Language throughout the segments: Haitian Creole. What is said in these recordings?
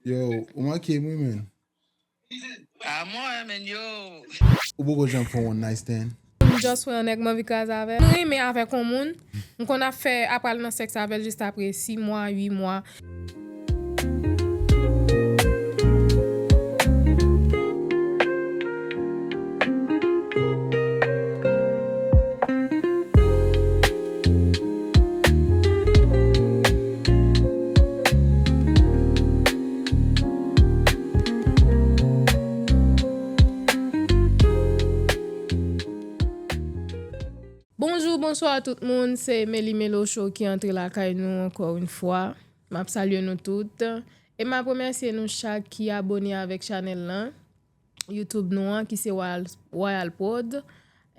Yo, ou mankem wi menn. Ah mwen menn yo. Ou poko janm fè one night stand? M just wè yon nèg m anvi kraze avèl. M renmen avèk yon moun, m konn ap fè ap pral nan sèks avèl just aprè 6 mwa, 8 mwa. Bonjou bonswa tout moun se Meli Melo show ki antre lakay nou ankò yn fwa map salye nou tout e map remèsye nou chak ki abone avèk chanèl lan YouTube nou an ki se Royal Prod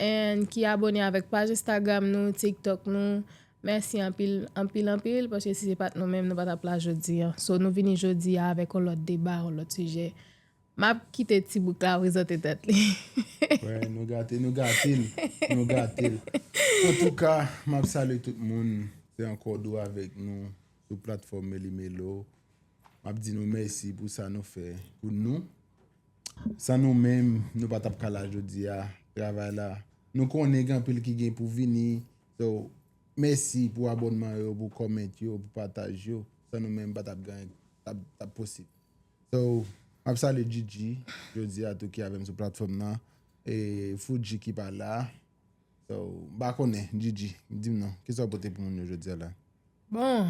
and ki abone avèk paj Instagram nou, TikTok nou. Mèsi anpil, anpil, anpil paske si se pat nou menm nou pa tap la jodi an. So nou vini jodi a avèk yon lòt deba, yon lòt sijè. Map kite ti bouk la prezante tèt li. Wè, nou gate, nou gate l, nou gate l. Antouka, map salye tout moun, se ankò Dou avèk nou sou platfòm Meli Melo. M ap di nou mèsi pou sa nou fè pou nou. San nou menm, nou pa t ap ka la jodi a. Travay la, nou konnen gen anpil ki gen pou vini. So, mèsi pou abònman yo, pou kòment yo, pou pataj yo. San nou menm, pa t ap gen anyen k t ap posib. So, m ap salye Djidji, jodi a tou ki avè m sou platfòm nan. E Foudji ki pa la. So, m pa konnen, Djidji, di m non, ki sa w pote pou moun yo jodi a la? Bon!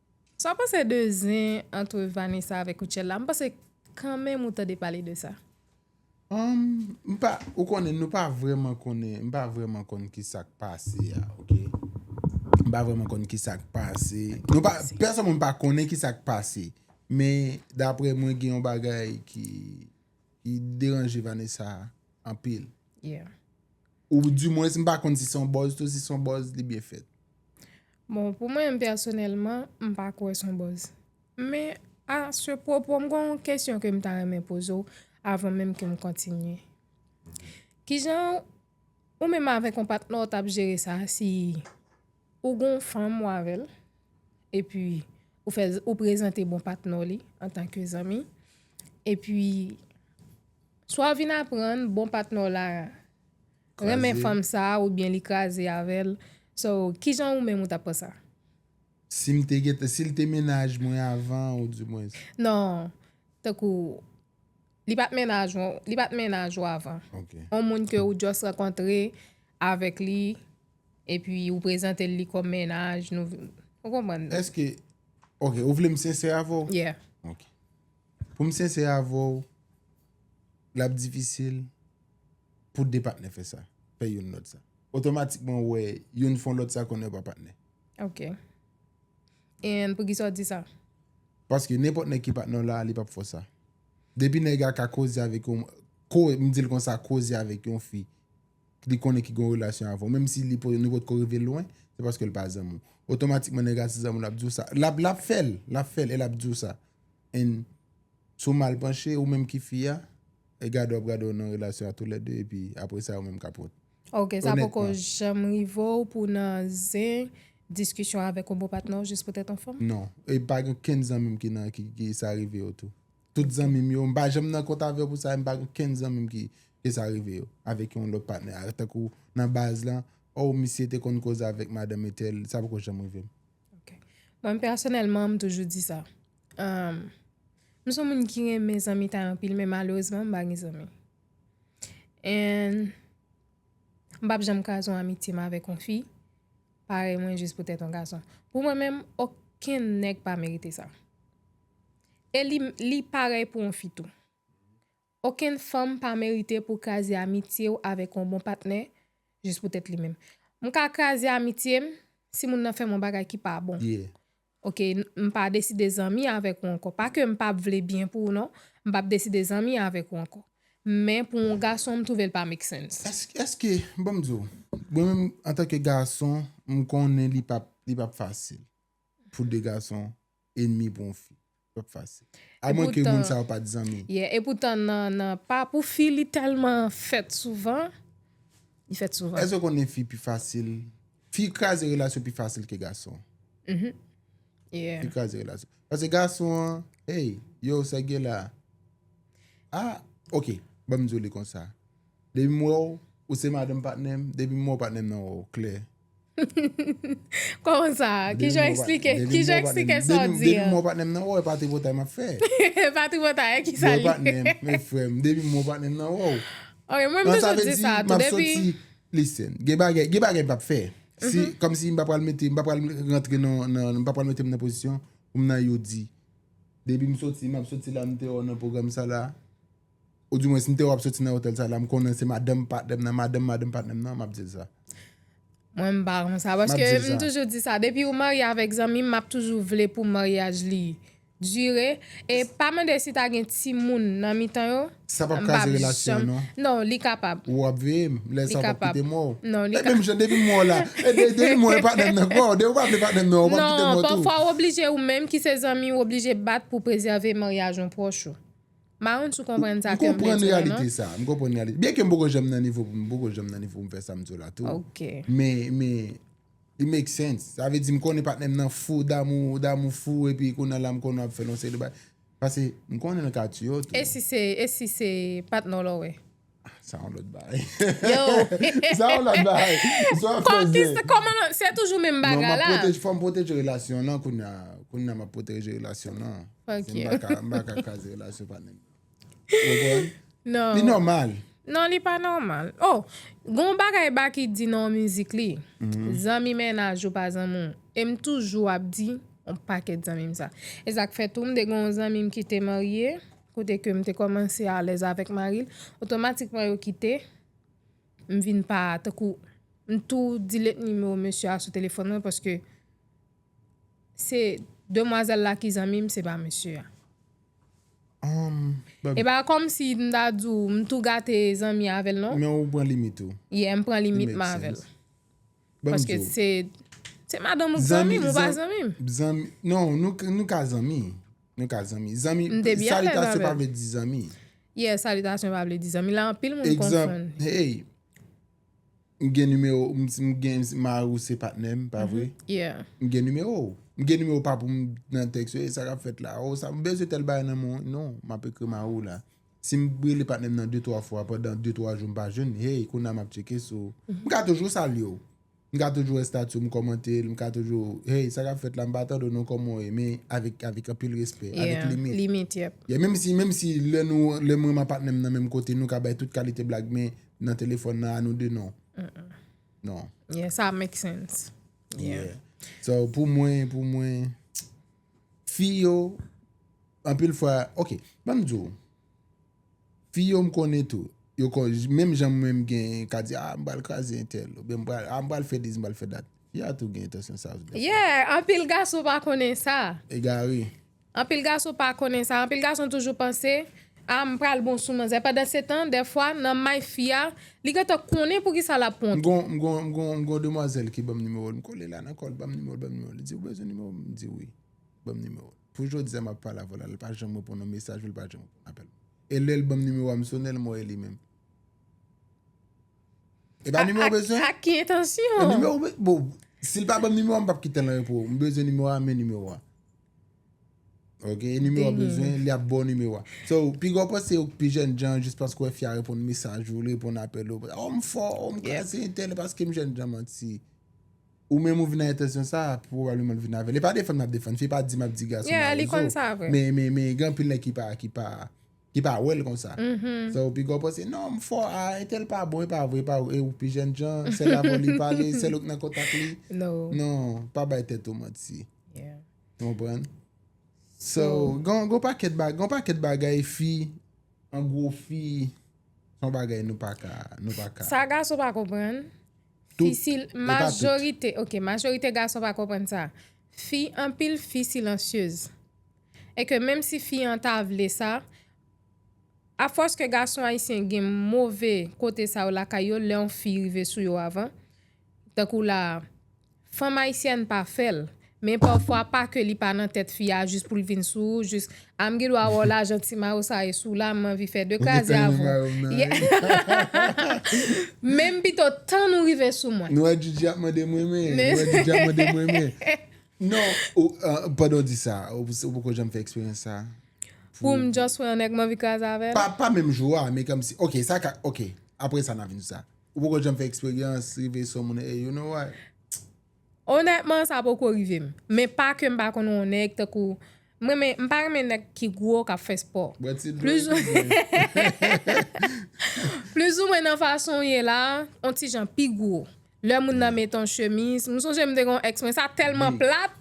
Sa w panse de zen antre Vanessa avèk Rutshelle la? M panse kanmenm ou tande pale de sa. Humm m pa ou konnen nou pa vrèman konnen m pa vrèman konn kisak pase a ok m pa vrèman konn kisak pase nou pa pèsòn mwen pa konnen kisak pase men daprè mwen gen yon bagay ki ki deranje Vanessa anpil ou di mwens m pa konn si son buzz tou si son buzz li byen fèt. Bon pou mwen m pèsonèlman m pa kwè son buzz. Men a se pwopo m gen yon kesyon ke m ta renmen poze w avan menm ke m kontinye. Kijan ou menm avèk yon patnè w t ap jere sa si ou gen yon fanm ou avè l epi ou fè ou prezante bon patnè w li antanke zanmi epi swa w vin aprann bon patnè w la renmen fanm sa ou byen li kraze avèl so kijan ou menm ou tap pran sa. Sim te gentan sil te mennaj mwen avan ou di mwens. Non tankou li pat mennaj ou li pat mennaj ou avan on moun ke ou just rankontre avèk li epi ou prezantel li kòm mennaj nou ou konprann. Eske ok ou vlem sensè avèw. Yeah. Ok poum sensè avèw lap difisil. pou 2 patnè fè sa, fè youn lòt sa. Otomatikman ou wè youn fon lòt sa konnen yo pa patnè. Ok. E pou ki sa ou di sa? Paske nenpòt nèg ki patnè w la a li pap fè w sa. Depi nèg a ka koze avèk yon, ko, m di l konsa, koze avèk yon fi k li konnen ki gen yon relasyon avè w, menm si li po, nou pot ko rive lwen, se paske l pa zanmi w. Otomatikman nèg a se zanmi w l ap di w sa. L ap, l ap fè l, l ap fè l e l ap di w sa. And si w mal panche, ou menm ki fi a, E gade wap gade w nan relasyon a tou lè 2 epi apre sa ou menm kap wont. Ok sa poko janm rive w pou w nan zen diskisyon avèk yon bon patnè w jis pou tèt yon fanm? Non, e pa gen okenn zanmi m ki nan ki sa rive yo tou. Tout zanmi m yo, m pa janm nan kont avè w pou sa e m pa gen okenn zanmi m ki ke sa rive yo avèk yon lòt patnè a tankou nan baz lan oh misye te konn koze avèk madanm etèl sa poko janm rive m. Ok. Mwen pèsonèlman m toujou di sa. M son moun ki renmen zanmitay anpil men malerezman m pa gen zanmi. And m pap janm kraze yon amitye m avèk yon fi parèy mwen jis poutèt yon gason. Pou mwen menm okenn nèg pa merite sa. E li parèy pou yon fi tou. Okenn fanm pa merite pou kraze amitye ou avèk yon bon patnè jis poutèt li menm. M ka kraze amitye m si moun nan fè m yon bagay ki pa bon. Ok m pa deside zanmi avèk ou ankò pa ke m pap vle byen pou ou non m pap deside zanmi avèk ou ankò men pou yon gason m twouve l pa make sense. Eske bon m di w mwen menm antanke gason m konnen li pap li pap fasil pou 2 gason enmi pou yon fi. Pap fasil. A mwen ke moun sa yo pat zanmi. Yeah e poutan nan pa pou fi li telman fèt souvan. Li fèt souvan. Eske ou konnen fi pi fasil. Fi kraze relasyon pi fasil ke gason. Uhmm yeah. Fi kraze relasyon. Pase gason an hey yo sa gen la. Ah ok banm di w li konsa. Depi m wè w ou se madanm patnè m depi m wè w patnè m nan wè w klè. Kòman sa? Kijan w eksplike sa w di an? Depi m wè w patnè m nan wè w, e pa tripotay m ap fè. E pa tripotay, e kisa li? Wè w patnè m, men frè m, depi m wè w patnè m nan wè w. Ok, mwen m toujou di sa tou, depi. Sa vle di, m ap soti, listen, gen bagay, gen bagay m pa p fè. Si, kòm si m pa pral mete, m pa pral rantre nan, nan, m pa pral mete m nan pozisyon pou m nan yo di. Depi m soti, m ap soti la m deyò nan pwogram sa la. Ou di mwen si m te wè w ap soti nan otèl sa la, m konnen se madanm patnè m nan, madanm madanm patnè m nan, m ap di l sa. Mwen m pa konsa, paske m toujou di sa, depi ou marye avèk zanmi m, m ap toujou vle pou maryaj li dire, e pa mande si ta gen timoun nan mitan yo, Sa pap kraze relasyon an non. Non, li kapab. Ou ap veye m, lè sa ou pap kite mwen w. Non, li kapab. E menm jan depi m wè w la, e depi m wè patnè m nan, kwè w, depi ou pa vle patnè m nan, ou pap kite mwen w tou. Non, pafwa ou oblije ou menm ki se zanmi, ou oblije bat pou prezève maryaj yon pwòch ou. Maron sou konprann sa kèm vle di la non. M konprann reyalite sa. Byen ke m poko janm nan nivo pou m poko janm nan nivo pou m fè sa m di w la tou. Ok. Men, men, it make sense. Sa vle di m konnen patnè m nan fou damou, damou fou epi kounye la m konnen ap fè l yon seri de bagay. Pase m konnen l ka tiye w tou. E si se, e si se patnè w la w wè? Sa yon lòt bagay. Sa yon lòt bagay. Sa yon lòt bagay. Se toujou menm bagay la. Non, fò m pwoteje relasyon nan koun ya. Koun ya m ap pwoteje relasyon nan. Ok. M baka kaze relasyon pa nèg. Ou konn? Non. Li nòmal. Non, li pa nòmal. Oh, gon bagay Baky di nan yon mizik li. Zanmi mennaj ou pa zanmi ou. E m toujou ap di yon pakèt zanmi m sa. E sa k fè tou m te gen yon zanmi m ki te marye. Kote ke m te kòmanse alèz avèk mari l, otomatikman yo kite, m vin pa, tankou, m tou delete nimewo mesye a sou telefòn mwen paske se demwazèl la ki zanmi m, se pa mesye a. E pa kòm si m ta di w m tou gate zanmi avè l non. Men ou pran limit ou. Yeah, m pran limit m avè l. Banm Paske diw. se se madanm ou k Zanmi, zanmim ou pa zan- zanmim. Zanmi, non, nou, k- nou ka zanmi. Nou ka zanmi. Zanmi, M te byen alèz salitasyon pa avèl. vle di zanmi. Yeah, salitasyon pa vle di zanmi. La anpil moun Egzanp, konfonn. hey, m gen nimewo, m si m gen, si mari ou se patnè m, pa vre? Yeah. M gen nimewo ou. M gen nimewo w pa pou m nan tèks yo, e sa k ap fèt la? O sa, m bezwen tèl bagay nan men w. Non, m ap ekri mari w la. Si m rele patnè m nan de twa fwa pandan de twa jou m pa jwenn li, hey kounye a m ap tcheke si w. M ka toujou salye w. M ka toujou wè estati w, m kòmante l, m ka toujou, hey sa k ap fèt la m pa tande w non kòman w ye men avèk avèk anpil respè, avèk limit. Yeah, limit, yep. Yeah, menm si menm si lè nou lè mwen m ak patnè m nan menm kote nou ka bay tout kalite blag men nan telefòn nan a nou de non. Non. Yeah, sa make sense. Yeah. Yeah. So pou mwen pou mwen. Fi yo, anpil fwa, ok, ban m di w, fi yo m konnen tou, yo kon, menm jan mwen m gen, ka di, a, m pral kraze entèl, oubyen m pral, a, m pral fè dis, m pral fè dat, fi a tou gen entansyon sa tou. Yeah, anpil gason pa konnen sa. Egare. Anpil gason pa konnen sa, anpil gason toujou panse, Ah m pral bon sou manzè pandan se tan dèfwa nan may fi a li gentan konnen poukisa lap pwan M tou. gon m gon m gon demwazèl ki banm nimewo l m kole la nan kòl banm nimewo l banm nimewo l li di ou bezwen nimewo m m di wi banm nimewo l pou jodi a map pale avè w la li pa janm reponn yon mesaj ou li pa janm reponn apèl mwen e lèl banm nimewo a m sone l m wè e li menm e pa nimewo w bezwen ak ki entansyon e nimewo w bezwen bon si l pa banm nimewo a m pap kite l anyen pou ou m bezwen nimewo a men nimewo a. Ok e nimewo wap bezwen li ap baw nimewo a So pi gwo pwen se ou k pi jènjan jis paske wè fi a reponn mesaj ou li reponn apèl ou Oh m fò oh m kraze entèl e paske m jènjan manti Ou menm ou vin nan entansyon sa a pwobableman l vin avè l e pa defann m ap defann fi pa di m ap di gason mawozo Men men men gen anpil nèg ki pa ki pa Li pa wèl konsa. Fè ou pi gò panse non m fò a entèl pa bon e pa vre e pa vre e ou pi jèn jan sèl avèw li pale sèl ou k nan kontak li non pa bay tèt ou manti ou konprann so gen yon pakèt bagay gen yon pakèt bagay fi an gwo fi se yon bagay nou pa ka nou pa ka sa gason pa konprann fi si majorite ok majorite gason pa konprann sa fi anpil fi silansyez. e ke menm si fi an ta vle sa, a fòs ke gason ayisyen gen move kote sa yo lakay yo lè yon fi rive sou yo avan, tankou la a, fanm ayisyèn pa fè l, men pafwa pa ke li pa nan tèt fi a jis pou l vin sou ou, jis, a m gen dwa wè w lajan ti mayo sa e sou w la, m anvi fè de kraze avè w. Men m pito tann ou rive sou mwen. Nou wè Djidji ap mande m renmen, nou wè Djidji ap mande m renmen. Non, pandan w di sa, ou poko janm fè eksperyans sa? Pou m just wè yon nèg m anvi kraze avè l? Pa menm jou a, men kòmsi, ok, sa ka, ok, apre sa n a vin sou sa. Ou poko janm fè eksperyans rive sou yon moun e, you know what? Onètman, sa poko rive m. Men pa ke m pa konn wè yon nèg tankou M renmen, m pa renmen nèg ki gwo kap fè spò. Bwè ti dlo yo pi byen. Plizoumwen nan fason w ye la, on ti jan pi gwo. Lè moun nan met on chemiz, m sonje m te gen on ex mwen sa tèlman plat,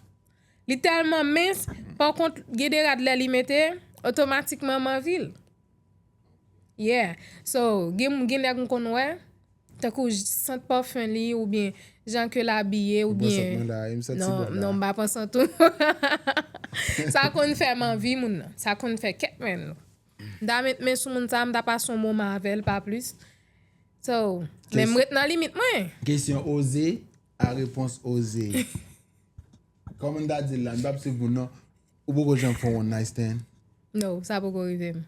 li tèlman mens, pa kont gen de rad lè li mete, otomatikman m anvi l. Yeah so gen gen nèg m konn wè tankou sant parfum li ou byen jan ke l abiye ou byen Ou pran sant mwen la a e m santi non bon la non m pa pran sant ou sa konn fè m anvi moun nan sa konn fè kèk men nou m ta met men sou moun sa m ta pase yon moman avè l pa plis so men m ret nan limit mwen. Kesyon oze a repons oze kòman m ta di l la m p ap swiv moun non Ou poko janm fè one night stand? No, sa poko rive m.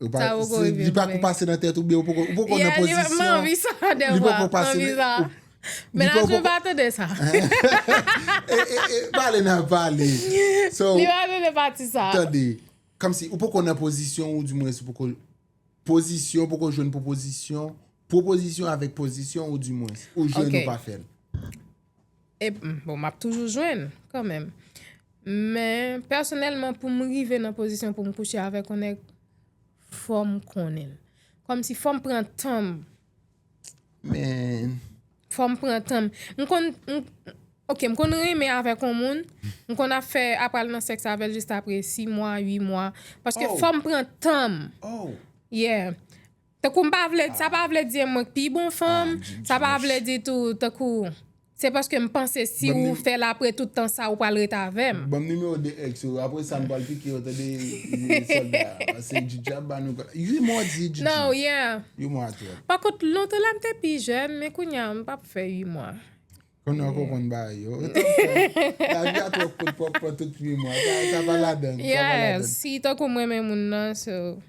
Li pa ko pase nan tèt ou byen ou poko nan pozisyon. Yeah, li pa m anvi sa de vwa. Li pa anvi sa. Menaj mwen pa tande sa. Pale nan pale. Li pa tande pati sa. Tande. Kòm si ou poko nan pozisyon ou di mwen si poko pozisyon, poko jwenn pwopozisyon, pwopozisyon avèk pozisyon ou di mwen. Ou jwenn ou pa fèl. Epm bon map toujou jwenn kanmenm men pèsonèlman poum rive nan pozisyon poum kouche avèk yon nèg fòm konnenl kòmsi fòm pran tanm fòm pran tanm mkonn ok mkonn renmen avèk yon moun mkonn ap fè ap pral nan sèks avèl jis aprè 6 mwa 8 mwa paske fòm pran tanm yeah. Tankou m pa vle, sa pa vle di mwen k pi bon fanm, sa pa vle di tou tankou se paske m panse si ou fè l apre tout tan sa ou pral ret avè m. Banm numéro 2 ex ou apre sa m pral pike yo tande solda paske Djidji ap ba nou ka 8 mwa di Djidji No yeah 8 mwa twòp. Pa kont lontan la m te pi jèn men kounya m pap fè 8 mwa. Konnen w ko konn bay yo. Ou tap fè lavi a twò kout pou w ap pran tout 8 mwa sa pa ladann. Yeah si tankou m renmen moun nan so.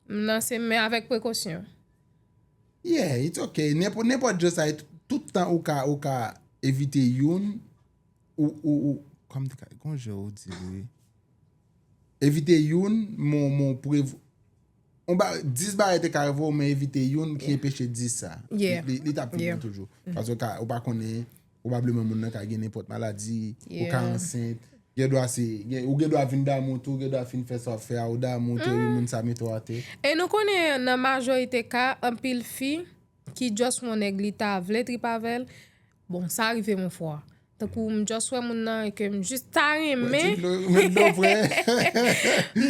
M lanse men avèk prekosyon. Yeah, it's ok. Nenpòt je sa e tout tan ou ka ou ka evite youn ou ou kòman m te ka gon je ou di li. Evite youn men w prev on bagay 10 bagay te ka rive w men evite youn ki enpeche 10 sa. Yeah. Li ta pi bon toujou. Paske ou pa konnen Pwobableman moun nan ka gen nenpòt maladi, ou ka ansent, gen dwa se, ou gen dwa vin damou tou, gen dwa fin fè sa w ap fè a, ou damou tou epi moun sa mete w atè. E nou konnen nan majorite ka, anpil fi ki just wè yon nèg li ta vle trip avè l, bon sa rive m yon fwa, tankou m just wè moun nan e ke m just ta renmen, m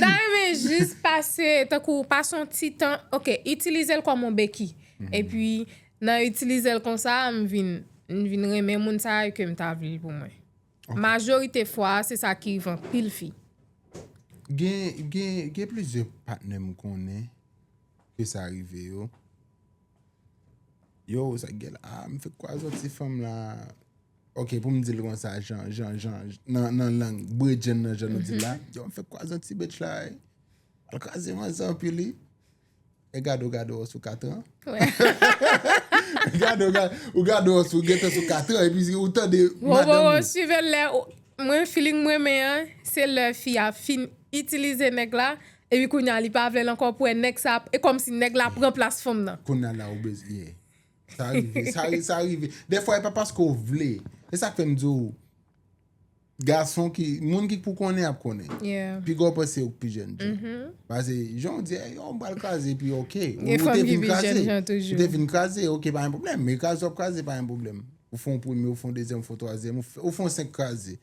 ta renmen just pase, tankou pase yon ti tan, ok, itilize l kòm yon beki, epi Nan itilizel konsa a m vin m vin renmen moun sa e kem ta vlel pou mwen. Majorite fwa a se sa ki rive anpil fi. Gen gen gen plizyè patnè m konnen ke sa rive yo. Yo sa k gen la a m fek kwaze yon ti fanm la ok pou m dil konsa jan jan jan nan nan lang bredjenn nan jan nou dil la m fek kwaze yon ti bitch la e al kraze manzè anpi li. E gade ou gade ou sou katran. Gade ou gade ou sou gete sou katran. E pi ou tande madan ou. Ou sive lè. Mwen feeling mwen men an. Se lè fi a fin itilize nèg la. E pi kounye a li pa vle l ankò pou e nèg sa. E kòm si nèg la pran plas fanm nan. Kounye a la ou bez ye. Sa rive. Sa rive. Defwa e pa paske ou vle. E sa k fè m di ou. Gason ki, moun ki pou konnen ap konnen. Pi gwo pwen se ou ki pi jèn jan. Pase, jan ou di, e yo mwen pral kraze, pi ok. Ou te vin kraze, ou te vin kraze, ok, pa yon problem. Men kraze wap kraze, pa yon problem. Ou fon premye, ou fon dezyèm, ou fon twazyèm, ou fon senk kraze.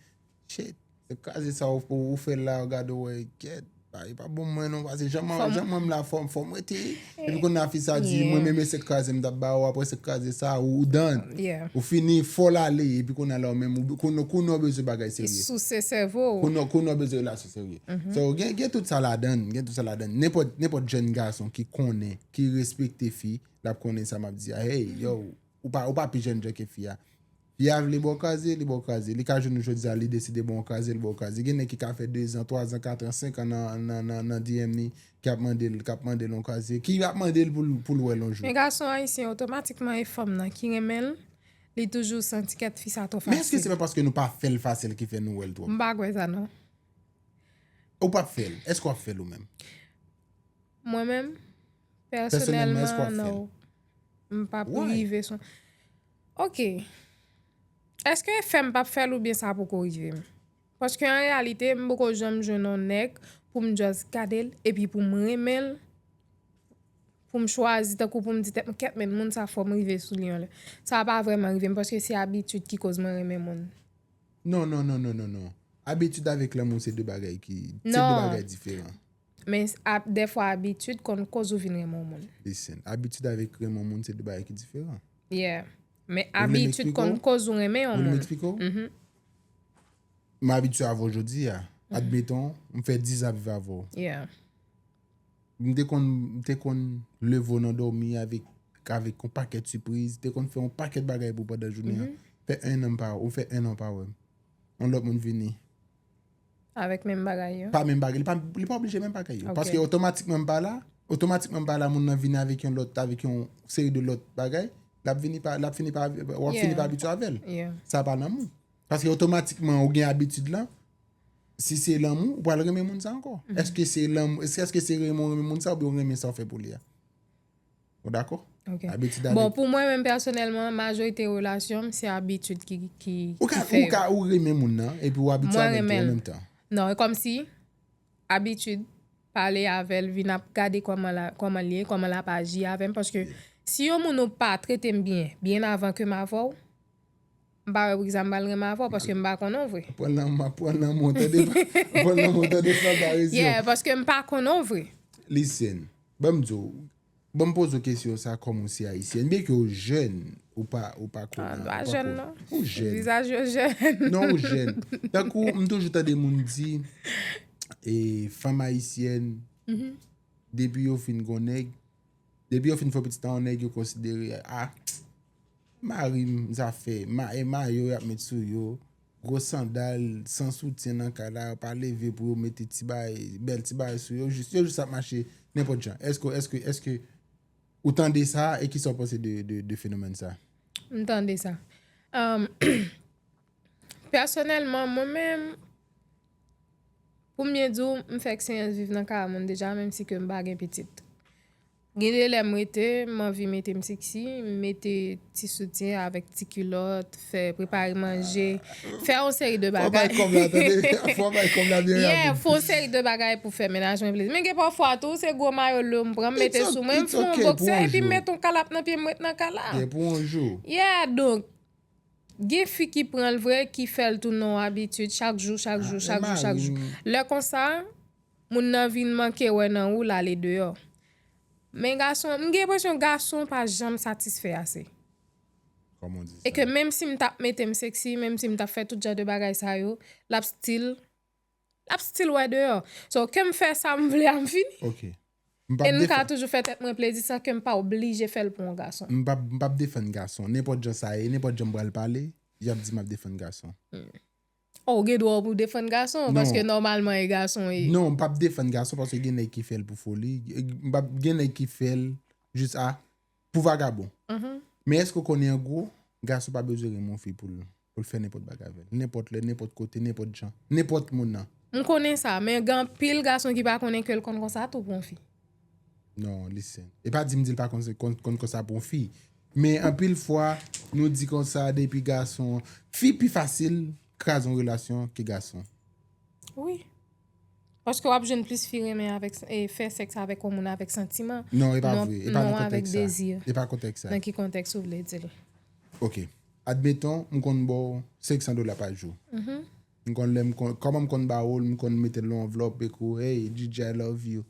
Shit, senk kraze sa ou fè la, ou gade ou e, get. Ba e pa bon mwen non pase jan mwen jan mwen la fòm fòm wè te epi kon na fi sa di mwen meme se kraze mta ba ou apre se kraze sa ou dan ou fini fòl ale epi kon na la ou men mou kon nou kon nou bezwen bagay serye e sou se sèvo ou kon nou kon nou bezwen la sou serye so gen gen tout sa la dan gen tout sa la dan nen pòt nen pòt jèn gason ki konnen ki respekte fi lap konnen sa map di a hey yo ou pa ou pa pi jèn jè ke fi a. Li a vle ba w kraze, li ba w kraze. Li ka jwenn ou jodi a, li deside ba w yon kraze, li ba w kraze. Gen nèg ki ka fè dezan, twazan, katran, senkan nan DM li ki ap mande l, k ap mande l yon kraze, ki ap mande l pou l wè l yon jou. Men gason ayisyen otomatikman e fanm nan ki renmen l, li toujou santi kèt fi sa twò fasil. Men èske se pa paske nou pa fè l fasil ki fè nou wè l twòp? M pa kwè sa non. Ou pa p fè l? Èske w ap fè l ou menm? Mwen menm, pèsonèlman, non. M pa p rive sou. Ok. Eske fèm pap fèl oubyen sa poko rivem? Paske an reyalite m poko janm jwenn on nèg poum just gadel epi poum renmenl, poum chwazi tankou poum di tèt mwen kèt men moun sa fòm rive sou li yon lè. Sa pa vrèman rivem paske se abitid ki koz mwen renmen moun. Non non non non non non. Abitid avèk lanmou se 2 bagay ki, se 2 bagay diferan. Men, dèfwa abitid konn koz ou vin renmen yon moun. Listen, Abitid avèk renmen yon moun se de bagay ki diferan. Yeah. Men abitid konn koz ou renmen yon moun. Ou vle m eksplike w? Mh. M abitye avè w jodi a. Admeton, m fè 10 zan ap viv avè w. Yeah. M te konn, m te konn leve w nan dòmi avèk, avèk yon pakèt sipriz. M te konn fè yon pakèt bagay pou w pandan jounen an. Fè 1 an m pa, ou fè 1 an ou pa wè m. Yon lòt moun vini. Avèk menm bagay yo? Pa menm bagay, li pa oblije menm bagay yo. Paske otomatikman m pa la, otomatikman m pa la moun nan vini avèk yon lòt, avèk yon seri de lòt bagay, l ap vini pa, l ap fini pa, w ap fini pa abitye avè l. Sa pa lanmou. Paske otomatikman ou gen abitid lan, si se lanmou, ou pa l renmen moun sa ankò. Eske se lanmou, eske se renmen moun sa ou byen ou renmen sa ou fè pou li a? Ou dakò? Ok. Abitid avèk. Bon, pou mwen menm pèsonèlman, majorite relasyon m, se abitid ki fè yo. Ou ka, ou ka, ou renmen moun nan, epi ou abitye avèl tou an menm tan. Mwen renmen l. Non, e kòm si, abitid, pale avè l, vin ap gade kòman la, kòman l ye, kòman l ap aji avè m, paske si yon moun ou pa trete m byen, byen avan ke m avè w. M pa wè poukisa m pral renmen avè w paske m pa konnen w vre. Pran nan map pran nan men w tande pran nan men w tande san parezyon. Yeah paske m pa konnen w vre. Listen ban m di w ban m poze w kesyon sa kòm ou se ayisyèn byen ke w jèn ou pa ou pa konnen an ou pa konnen an. Mwen pa jèn non vizaj yo jèn. Non ou jèn tankou m toujou tande moun di e fanm ayisyèn depi yo fin gon nèg. Depi yo fin fè pitit an nèg yo konsidere a mari m zafè e mayo yap met sou yo gwo sandal san soutyen nan kay la yo pa leve pou yo mete ti bagay bèl ti bagay sou yo jis yo jis ap mache nenpòt jan èske èske èske ou tande sa e kisa ou panse de fenomèn sa. M tande sa pèsonèlman mwen menm. Pou m byen di w, m fè eksperyans viv nan kay moun deja menm si ke m pa gen pitit. Gen de lè m rete, m anvi mete m seksi, m mete ti soutyen avèk ti kilòt, fè prepare manje, fè yon seri de bagay. Fò w bay kòb la tande, fò w bay kòb la byen rapid. Yeah, fè yon seri de bagay pou fè mennaj mwen plezi. Men gen pafwa tou, se gwo mayo lou m pran, m mete sou mwen, m fè yon boksè epi m mete yon kalap nan pye m ret nan kay la. It's ok pou yon jou. Yeah, donk. Gen fi ki pranl vre ki fèl tounen yon abitid chak jou chak jou chak jou chak jou lè konsa moun nan vin manke wè nan ou lale deyò men gason m gen enpresyon gason pa janm satisfè ase e ke menm sim tap metem sexy menm sim tap fè tout jan de bagay sa yo lap stil Lap still wè deyò. So kem fè sam vle a mfini. Ok. E m ka toujou fè tèt mwen plezi san kem pa oblije fèl pou yon gason. M pap defann gason. Nenpòt jan sa ye, nenpòt jan m pral pale, yap di map defann gason. Oh ou gen dwa ou pou defann gason paske nòmalman e gason e. Non m pap defann gason paske gen nèg ki fèl pou foli, gen nèg ki fèl jis a. Pou vagabon. Men èske ou konnen an gwo, gason pa bezwen renmen yon fi pou l fè nenpòt bagay avè l. Nenpòt lè, nenpòt kote, nenpòt jan. Nenpòt moun nan. M konnen sa, men gen anpil gason ki pa konnen ke l konn konsa tou pou yon fi. Non, listen. E pa di m di l pa konn konsa pou yon fi. Men anpil fwa, nou di konsa depi gason. Fi pi fasil kraze yon relasyon ke gason. Wi. Paske wap jwenn plis fi renmen avèk fè sèks avèk yon moun avèk santiman Non e pa vre, e pa nan kontèks sa E pa nan kontèks sa Nan ki kontèks ou vle dil? Ok, admeton m konn ba w 500 dola pa jou M konn lè m konn, kòman m konn ba ou l, m konn mete l nan yon anvlòp e kou Hey Djidji I love you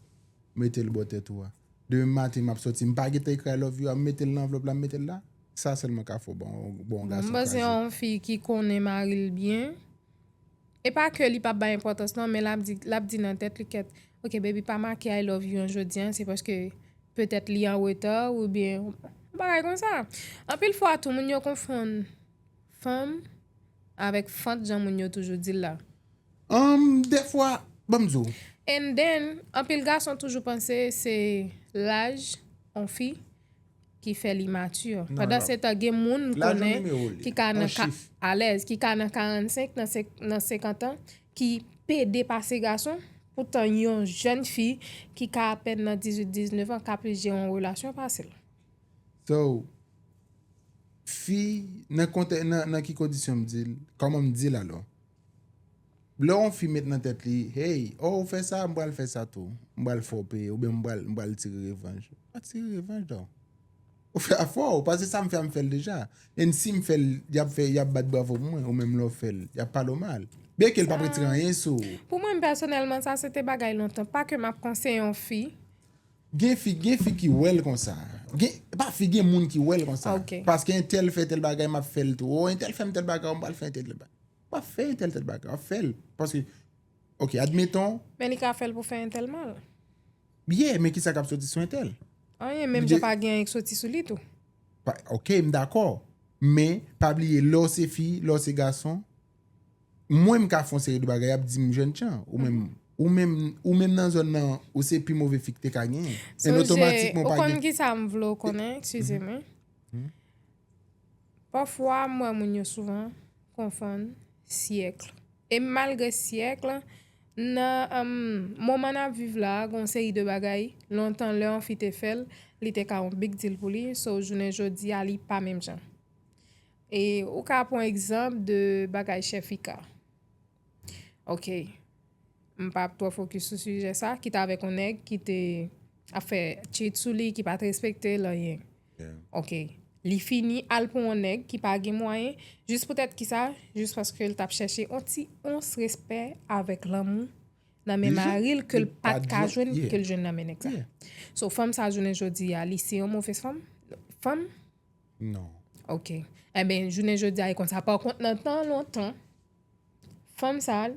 Mete l bò tèt ou a Demen maten map soti, m pa gentan ekri I love you a, m mete l nan anvlòp la, m mete l la Sa sèlman ka fè w ba yon gason kraze M panse yon fi ki konnen mari l byen E pa ke li pap bay enpòtans non men lap di lap di nan tèt li kèt ok baby pa make I love you an jodi an se paske petèt li an reta ou byen yon bagay konsa. Anpil fwa tou moun yo konfonn fanm avèk fant jan moun yo toujou dil la. Humm dèfwa banm di w. And then anpil gason toujou panse se laj on fi ki fè li mature. Non, Pandan non. se tan gen moun m Laj ou konnen nimewo li, ki ka an nan ka chif. alèz, ki ka nan 45 nan se nan 50 an ki pede pase gason, poutan yon jèn fi ki ka apèn nan 18, 19 an ka plis jere yon relasyon pase l. So, fi, nan kontè nan nan ki kondisyon m di l, kòman m di l alò? Lè yon fi met nan tèt li, hey, oh ou fè sa, m pral fè sa tou. M pral fè w peye oubyen m pral tire revanj. Pa tire revanj non. Ou fè a fò ou, paske sa m fè a m fè l deja. And si m fè l, y ap fè, y ap bat bravo pou mwen. Ou menm lè ou fè l, y ap pale w mal. Byen ke l pap retire anyen sou ou. Pou mwen pèsonèlman, sa se te bagay lontan. Pa ke m ap konseye yon fi. Gen fi, gen fi ki wè l konsa. Gen, pa fi, gen moun ki wè l konsa. Paske entèl fè tèl bagay, m ap fè l tou. Ou entèl fè m tèl bagay, m pral fè entèl tèl bagay. Pa fè entèl tèt bagay, wap fèl. Paske, ok, admeton. Men li ka fèl pou fè entèl mal. Ye, men ki sa kap soti sou entèl? Anyen, menm jan pa gen anyen ki soti sou li tou. Ok, m dakò. Men, pa bliye, lè w se fi, lè w se gason, mwen m ka fon seri de bagay, yap di m jèn jan. Ou menm, ou menm, ou menm nan zòn nan, ou se pi move fi ki te ka gen. Sonje, ou konn ki sa m vle w konnen, eskize mwen. Pafwa m wè moun yo souvan konfonn siècle e malgre siècle nan moman nap viv la gen yon seri de bagay lontan lè yon fi te fèl li te ka yon big deal pou li so jounen jodi a li pa menm jan e ou ka pran egzanp de bagay chèfika. Ok. M pa ap twò fokis sou sijè sa, ki t avèk yon nèg ki te ap fè cheat sou li, ki pa t respekte l anyen. Ok. Li fini al pou yon nèg ki pa gen mwayen, jis poutèt ki sa? Jis paske l t ap chèche yon ti ons respè avèk lanmou nan men mari l ke l pa t ka jwenn, ke l jwenn nan men nèg sa. So, fanm sa jounen jodi a, li se yon movèz fanm? Fanm? Non. Ok. Enben, jounen jodi a, li konn sa. Pakont, nan tan lontan. Fanm sa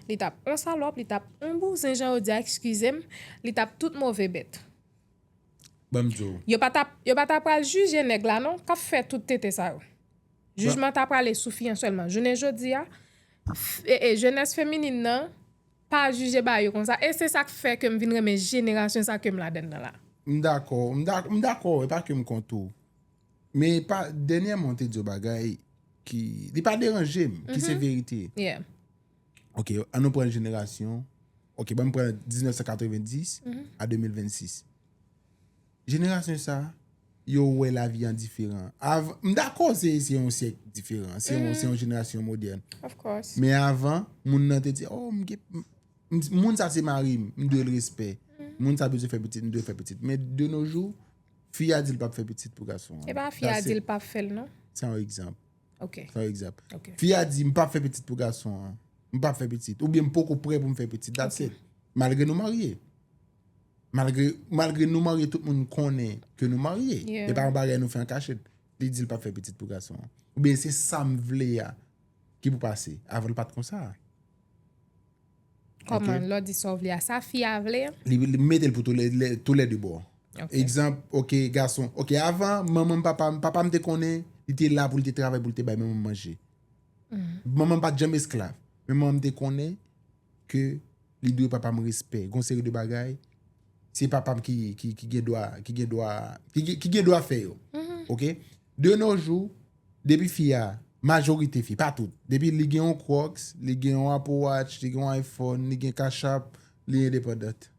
li tap on salòp li tap on bouzen jan ou di a ekskizem li tap tout move bèt. Banm diw. Yo pa tap yo pa ta pral jije nèg la non kap fè tout tete sa yo. Jijman ta prale sou fi an sèlman. Jounen jodi a jenès feminin nan pa jije ba yo konsa e se sak fè kem vin renmen jenerasyon sa kem ladann nan la. M dakò, m dakò, m dakò e pa kem kont ou. Men pa dènyèman ou te di yon bagay ki li pa deranje m, ki se verite. Yeah. Ok, an nou pran jenerasyon, ok banm pran 1990 a 2026. Jenerasyon sa, yo wè lavi an diferan. Av, m dakò se yon syèk diferan, se yon jenerasyon modèn. Of course. Men avan, moun nan te di, oh m gen, moun sa se mari m, m dwe l respè. Moun sa bezwen fè pitit, m dwe l fè pitit. Men de no jou, Fi a di l pap fè pitit pou gason an. E pa fi a di l pap fè l non. Se yon egzanp. Ok. Se yon egzanp. Ok. Fi a di m pap fè pitit pou gason an. M pap fè pitit. Ou byen m poko pre pou m fè pitit. Dat se. Malgre nou marye. Malgre, malgre nou marye tout moun konnen ke nou marye. Yeah. E pa yon bagay nou fè an kachèt. Li di l pap fè pitit pou gason an. Ou byen se sa m vle a ki pou pase. Avan l pat konsa. Kòman lè w di sa w vle a, sa fi a vle an? Li mete l pou tou lè 2 bò. Egzanp, ok gason, ok avan manman m papa m, papa m te konnen li te la pou l te travay pou l te bay manman m manje. Manman m pa t janm esklav. Men manman m te konnen ke li dwe papa m respè. Gon seri de bagay, se papa m ki gen dwa fè yo. Ok? De no jou. Depi fi a, majorite fi, pa tout, depi li gen yon Crocs, li gen yon Apple Watch, li gen yon iPhone, li gen Cash App, li independant.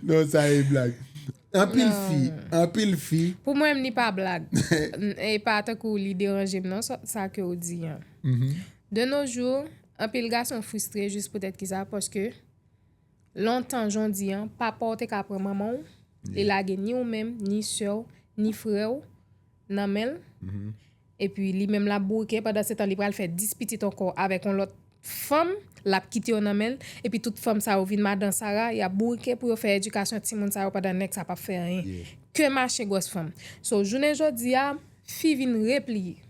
Non sa e blag. Anpil fi, anpil fi. Pou mwen menm li pa blag. E pa tankou li deranje m non sa ke w di an. De nos jours, anpil gason frustre jis poutèt ki sa, paske. Lontan jan di an, papa w te ka pran manman w, li lage ni ou menm, ni sè w, ni frè w nan men l, epi li menm l ap bouke, pandansetan li pral fè 10 pitit ankò avèk yon lòt fanm, l ap kite yo nan men l, epi tout fanm sa yo vin madan sara, y ap bouke pou yo fè edikasyon timoun sa yo pandan nèg sa p ap fè anyen ke mache gwòs fanm. So, jounen jodi a, fi vin repliye.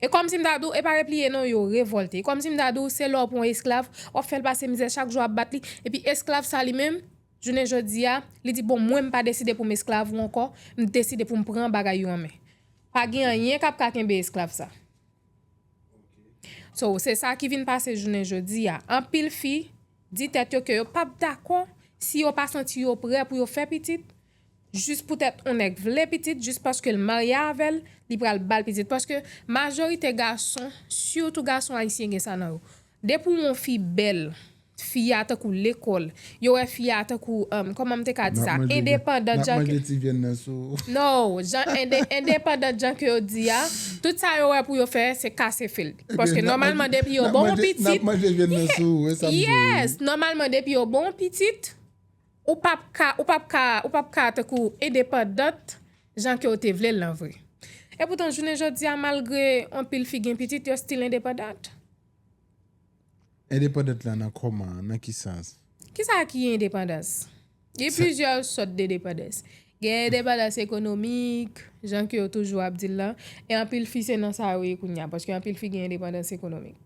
E kòmsi m ta di w, e pa repliye non, yo revòlte. E kòmsi m ta di w, se lè w pran yon esklav, w ap fè l pase mizè, chak jou w ap bat li, epi esklav sa li menm, jounen jodi a, li di bon mwen m pa deside pou m esklav ou ankò, m deside pou m pran bagay yo an men. Pa gen anyen k ap ka kenbe esklav sa. So, se sa ki vin pase jounen jodi a. Anpil fi di tèt yo ke yo p ap dakò si yo pa santi yo prè pou yo fè pitit, jis poutèt on nèg vle pitit jis paskel marye avèl li pral bal pitit paske majorite gason sitou gason ayisyen gen sa nan yo depi ou wè on fi bèl fi a tankou lekòl yo wè fi a tankou kòmanm te ka di sa endepandant jan ke no jan endepandant jan ke yo di a tout sa yo wè pou yo fè se kase fil paske nòmalman depi yo ba on pitit yes nòmalman depi yo ba on pitit Ou pap ka, ou pap ka, ou pap ka tankou endepandant jan ke w te vle l lan vre. E poutan jounen jodi a malgre anpil fi gen pitit yo still endepandant. Endepandant lan nan kòman, nan ki sans? Kisa ki endepandans? Gen plizyè sòt de depandans. Gen endepandans ekonomik, jan ke yo toujou ap di l lan, e anpil fi se nan sa yo ye kounya, paske anpil fi gen endepandans ekonomik.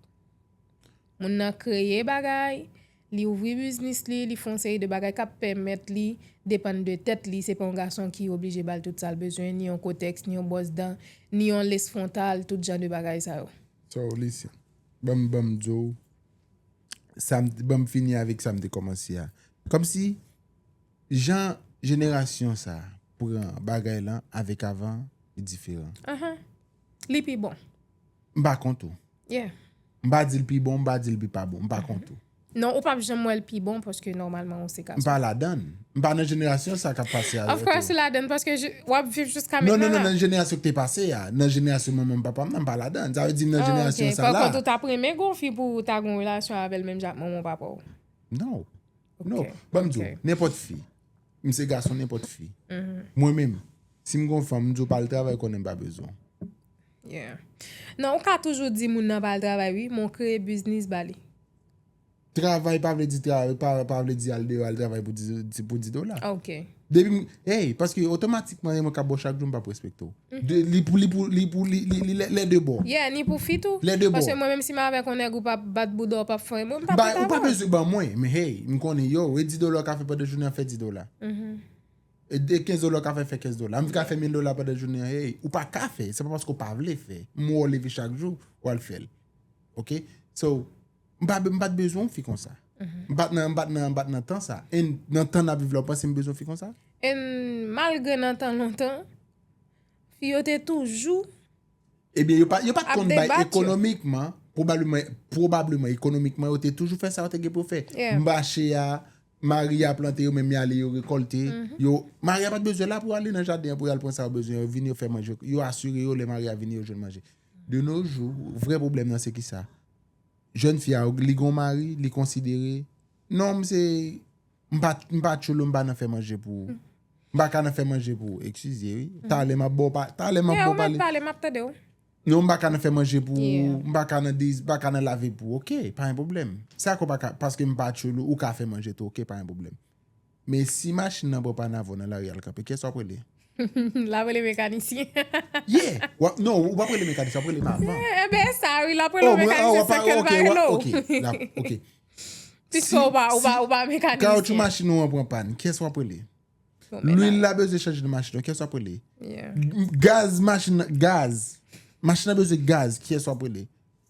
Moun nan kreye bagay, li ouvri biznis li, li fè yon seri de bagay k ap pèmèt li depann de tèt li, se pa yon gason ki oblije ba l tout sa l bezwen, ni yon kotèks, ni yon bòs dan, ni yon les fwontal, tout jan de bagay sa yo. So listen, ban m ban m di w sa m, ban m fini avèk sa m te kòmanse a. Kòmsi jan jenerasyon sa a pran bagay lan avèk avan li diferan. Ahan, li pi bon. M pa kont ou. Yeah. M pa di l pi bon, m pa di l pi pa bon, m pa kont ou. Non, ou pap janm wè l pi bon paske nòmalman ou se gason. M pa ladann. M pa nan jenerasyon sa k ap pase a yo tou. Of course ou ladann paske w ap viv jiska mentnan la. Non, non, non, nan jenerasyon ki te pase a. Nan jenerasyon manman m papa m nan, m pa ladann. Sa vle di m nan jenerasyon sa la. Oh ok, pa kont ou t ap renmen gen yon fi pou ou ta gen yon relasyon avè l menm jan ak manman w papa w? No. No, ban m di w, nenpòt fi, m se gason nenpòt fi, mwen menm, si m gon fanm, m di w pa al travay konnen m pa bezwen w. Yeah. Non, ou ka toujou di moun nan pa al travay wi, men w kreye biznis ba li. Travay pa vle di travay, pa vle di al deyò al travay pou 10 dola. Ok. Depi m, hey, paske otomatikman e mwen k ap ba w chak jou m p ap respekte w. De li pou li pou li pou li li li lè de bò. Yeah ni pou fi tou. Lè de bò. Paske mwen menm si m avèk yon nèg ou pa bat bouda w pap fè mwen m pa prèt avèw. Ou pa bezwen ban mwen men hey m konnen yow e 10 dola w ka fè pandan jounen an fè 10 dola. E 15 dola w ka fè fè 15 dola. M vin ka fè 1000 dola pandan jounen an hey ou pa ka fè se pa paske w pa vle fè m wè w leve chak jou wal fèl ok so. M pa m pat bezwen yon fi konsa. M pat nan m pat nan m pat nan tan sa. E nan tan n ap viv la ou panse m bezwen fi konsa? E malgre nan tan lontan, fi yo te toujou Ebyen yo pat yo pat konn bay ekonomikman, pwobableman pwobableman ekonomikman yo te toujou fè sa yo te gen pou yo fè. Mache a, mari a plante yo menm y ale yo rekòlte, yo mari a pat bezwen la pou ale nan jaden an pou y al pran sa yo bezwen yo vini yo fè manje yo asire yo lè mari a vini yo jwenn manje. De no jou vrè pwoblèm nan se kisa? Jèn fi a li gon mari li konsidere non m se m pa m pa tchoulou m pa nan fè manje pou ou m pa ka nan fè manje pou ou ekskize wi talè m ap ba w pa talè m ap ba w pale talè m ap tande w non m pa ka nan fè manje pou ou m pa ka nan dezi m pa ka nan lave pou ou ok pa gen pwoblèm sa ke w pa ka paske m pa tchoulou ou ka fè manje tou ok pa gen pwoblèm. Men si machin nan pran panavo nan lari al kanpe, kiyès wap rele? Lap rele mekanisyen. Yeah! Wap, non, ou pap rele mekanisyen, wap rele manman. Eh ben e sa wi, lap rele ou mekanisyen san kèl pa rele ou. Oh, mwen, oh, ok, wap, ok, ok. Piske ou pa, ou pa, ou pa mekanisyen. Kawoutchou machin ou an pran pàn, kiyès wap rele? Lwil la bezwen chanje nan machin ou, kiyès wap rele? Yeah. Gaz machin nan, gaz, machin nan bezwen gaz, kiyès wap rele?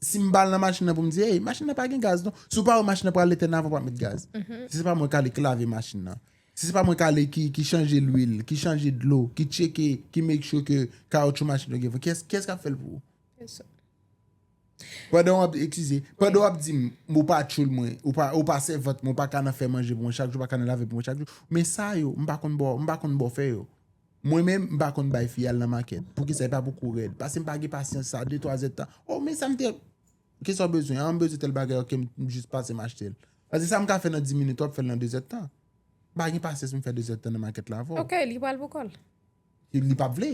Si m pa al nan machin nan pou m di, ey, machin nan pa gen gaz non. Si w pa wè machin nan pral etèn avan w pa met gaz. Si se pa mwen k ale ki lave machin nan. Si se pa mwen k ale ki chanje lwil, ki chanje dlo, ki tcheke, ki make sure ke kawoutchou machin yo gen fre, ki yès k ap fè l pou ou? Pèsòn. Pandan w ap, eskize, pandan w ap di m, ou pa tchoul mwen, ou pa, ou pa sèvant mwen, ou pa ka nan fè manje pou mwen chak jou, ou pa ka nan lave pou mwen chak jou, men sa yo, m pa konn ba w, m pa konn ba w fè yo. Mwen menm m pa konn bay fi al nan makèt poukisa e pa pou kou rèd pasem pa gen pasyans sa de twa zèd tan oh men sam te kisa w bezwen an m bezwen tèl bagay ok m jis pase m achtel paske sam ka fè nan 10 minit wap fèl nan 2 zèd tan m pa gen pasyans pou m fè 2 zèd tan nan makèt la avèw. Ok li pral pou kòl. Li pap vle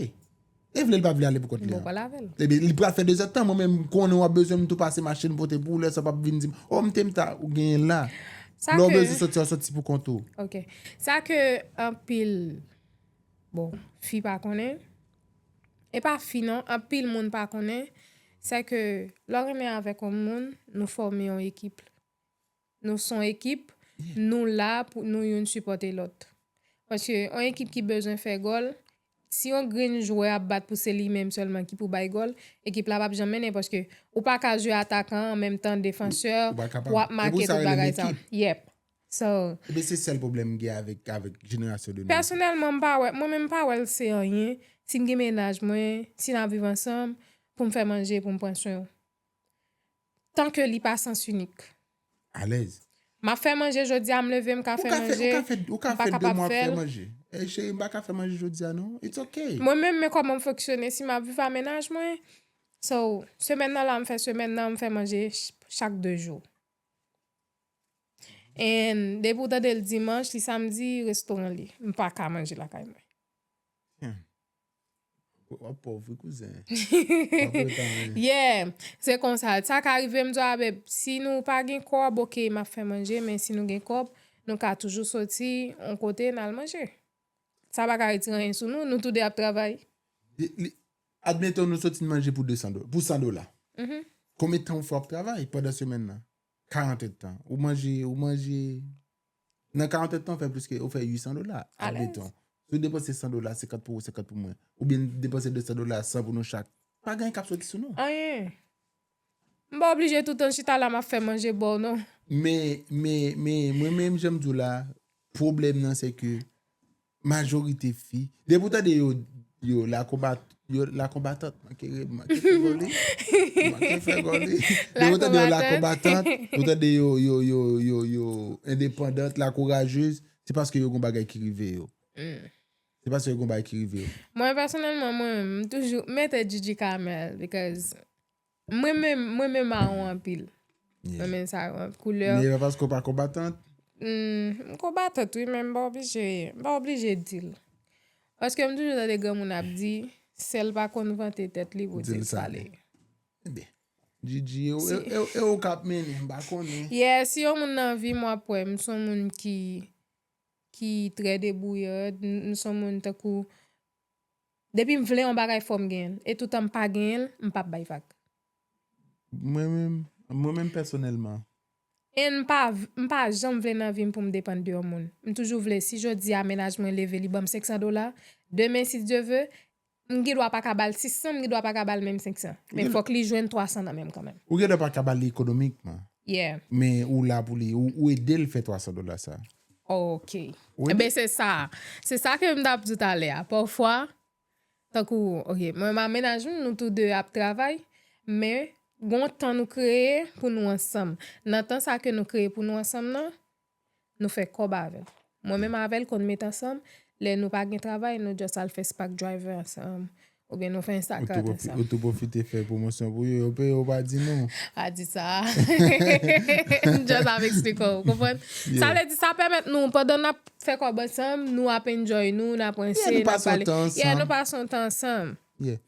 e vle li pap vle ale pou kòt li an. Li pral avèl. Ebyen li pral fè 2 zèd tan mwen menm m konnen wap bezwen m tou pase m achtel m pote pou w lè sa w pap vin dim oh m te m ta ou genyen la lè w bezwen soti wap soti pou kont ou. Ok sa ke anpil. Bon, fi pa konnen. E pa fi non, anpil moun pa konnen. Se ke, lò renmen avèk yon moun, nou fòme yon ekip. Nou son ekip, nou la pou nou youn sipòte lòt. Paske, yon ekip ki bezwen fè gòl, si yon grenn jwè ap bat pou se li menm sèlman ki pou bay gòl, ekip la pap janm mennen. Paske, ou pa ka jwe atakan, an menm tan defansè, wap make tout bagay sa. Yep. So. Ebyen se sèl pwoblèm m gen avèk jenerasyon 2000 sa. Pèsonèlman m pa wè, mwen menm m pa wè l se anyen si m gen mennaj mwen, si n ap viv ansanm pou m fè manje pou m pran swen w. Tan ke li pa sans inik. Alèz. M ap fè manje jodi a m leve m ka fè manje, m pa kapab fè l. Ou ka fè 2 mwa ap fè manje. Ey cheri m pa ka fè manje jodi a non, it's ok. Mwen menm men kòman m fonksyone si m ap viv a mennaj mwen. So, semèn nan la m fè semèn nan, m fè manje chak 2 jou. And depi ou tandel dimanche li samedi restaurant li m paka manje lakay mwen. Wap pòv wi kouzen. Yeah se konsa sa ka rive m di w a beb si nou pa gen kòb ok map fè manje men si nou gen kòb nou ka toujou soti on kote nal manje sa paka retire anyen sou nou nou tou 2 ap travay. Admettons nou soti manje pou 200 pou 100 dola konbyen tan ou fè wap travay pandan semèn nan. 40 etan. Ou manje, ou manje, nan 40 etan ou fè pliske, ou fè 800 dola, admeton. Ou depanse 100 dola, 50 pou ou, 50 pou mwen. Ou byen depanse 200 dola, 100 pou nou chak. Pa gen yon kap soti sou nou. Anyen. M pa oblije toutan chita la map fè manje baw non. Men, men, men, mwen menm janm di w la, pwoblèm nan se ke, Majorite fi. Depi w tande yo yo la konbat yo la konbatant manke ri m manke fè gò li. M manke fè gò li. Depi w tande yo la konbatant, ou tande yo yo yo yo yo endepandant, la kourajez, se paske yo gon bagay ki rive yo. Se paske yo gon bagay ki rive yo. Mwen pèsonèlman mwen menm m toujou mete Djidji Kamèl because Mwen menm, mwen menm maron anpil. Mwen renmen sa yo anpil. Koulè. Neyè paske ou pa konbatant? M konbatant wi men m pa oblije, m pa oblije di l. Paske m toujou tande granmoun ap di, sèl pa konn vante tèt li pou di l sa l ye. Ebyen. Djidji, e ou k ap mennen, m pa konnen. Yè, si yon moun nan vi m w ap wè m s on moun ki, ki trè debouyad, m s on moun tankou Depim vle yon bagay fòm genyenl e toutan m pa genyenl m pap bay vag. Mwen menm mwen menm pèsonèlman. And m pa m pa janm vle nan vim poum depann de yon moun. M toujou vle si jodia mennaj mwen leve li banm 500 dola, demen si Dye ve, m gendwa paka bal 600 m gendwa paka bal menm 500. Men fòk li jwenn 300 nan menm kanmenm. Ou gendwa paka bal li ekonomikman. Yeah. Men ou la pou li, ou edel fè 300 dola sa. Ok. Wi. Enben se sa. Se sa ke m t ap di w talè a. Pafwa, tankou, ok, mwen ma mennaj m, nou tou de ap travay, men gon tan nou kreye pou nou ansanm. Nan tan sa ke nou kreye pou nou ansanm nan, nou fè kòb avè l. Mwen menm avè l konn met ansanm, lè nou pa gen travay, nou just al fè spak driver ansanm. Ou byen nou fè Instacart ansanm. Ou tou pwofite fè pwomosyon pou yo. Yo peye ou pa di nou. Pa di sa. M just ap eksplike ou. Ou konprann? Sa vle di sa pèmèt nou pandan n ap fè kòb ansanm, nou ap enjoy nou, n ap ranse, n ap pale. Yeah, nou pase yon tan ansanm. Yeah, nou pase yon tan ansanm. Yeah,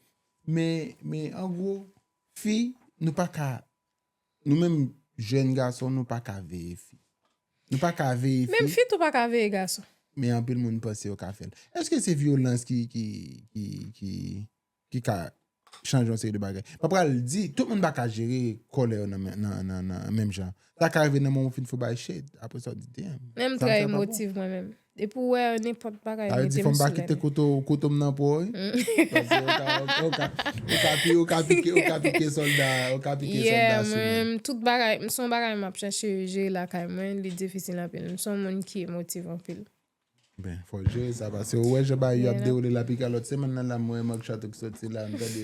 men an gwo, fi, nou pa ka Nou menm jèn gason nou pa ka veye fi. Nou pa ka veye fi. Menm fi tou pa ka veye gason. Men anpil moun panse yo ka fèl. Eske se vyolans ki ki ki ki ki ka chanje yon seri de bagay. Mwen pral di, tout moun pa ka jere kòlè yo nan nan nan menm jan. Sa ka rive nan moman ou fin fò bay shade, aprè sa ou di damn. Menm trè emotive mwen menm. Depi ou wè nenpòt bagay mete m sou lène. Sa vle di fò m pa kite kouto m nan po wi. Paske ou ka pike, ou ka pike sòlda, ou ka pike sòlda sou mwen. Yeah mwen, tout bagay, m son bagay m ap chache jere lakay mwen, li difisil anpil. M son moun ki emotiv anpil. Ben, fò jere sa paske ou wè jan bagay yo ap dewoule la pika lòt semenn nan la m wè Marc Chateau ki sòti la, m tande.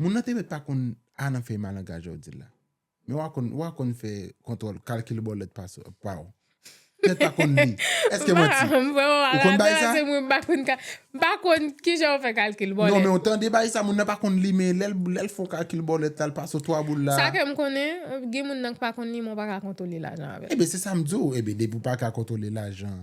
Moun nan te mèt pa konn a nan fèy malangaj a w di la. Men wa konn, wa konn fè kontwòl, kalkil bòlèt pa sou, pa w. Mèt pa konn li. Èske manti? M pa, m vrèman pa ka konn sa se mwen m pa konn ka, m pa konn ki jan w fè kalkil bòlèt. Non men w tande bay sa moun nan pa konn li men lè l, lè l fon kalkil bòlèt la l pa sou 3 boul la. Sa ke m konnen, gen moun nan k pa konn li men w pa ka kontwole lajan avè l. Eben se sa m di w, eben depi w pa ka kontwole lajan.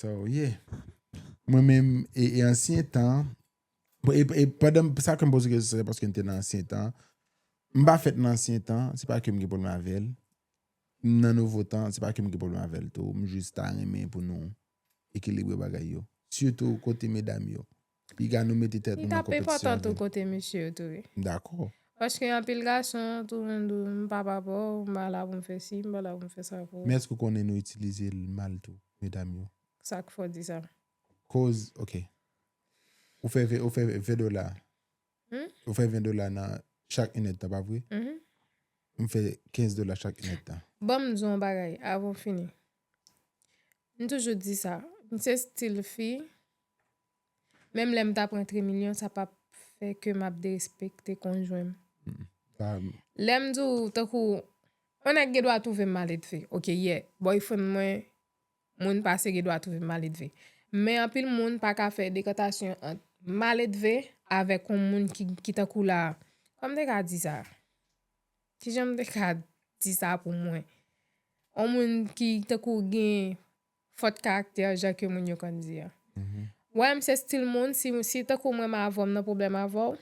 Sa ou ye. Mwen menm, e ansyen tan, e pandan, sa ke m poze kesyon se paske m te nan ansyen tan, m pa fèt nan ansyen tan, se pa ke m gen pwoblèm avè l, m nan nouvo tan, se pa ke m gen pwoblèm avè l tou, m jis ta renmen pou nou ekilibre bagay yo, sitou kote medam yo. Piga nou mete tèt nou nan konpetisyon. Li tap enpòtan tou kote mesye yo tou wi. M dakò. Paske anpil gason tou moun di w m pa pa pa w, m pa la pou m fè si, m pa la pou m fè sa pou ou. Men èske ou konnen nou itilize l mal tou medam yo? Sak fè w di sa? Koz ok. Ou fè 20 dola. Ou fè 20 dola nan chak 1 èd tan, pa vre? M fè 15 dola chak 1 èd tan. Ban m di w yon bagay avan w fini. M toujou di sa, m se stil fi, menm lè m ta pran trimilyon, sa pap fè ke m ap derespekte konjwen m. Lè m di w tankou, yon nèg gen dwa twouve m maledve, ok, yè, bòyfrèn mwen Moun pa se gen dwa twouve maledve. Men anpil moun pa ka fè dekantasyon ant maledve avèk yon moun ki ki tankou la kòman m te ka di sa? Ki jan m te ka di sa pou mwen? Yon moun ki tankou gen fot karaktè jan ke moun yo konn di an. Wè m se stil moun si tankou mwen m avè w m nan pwoblèm avè w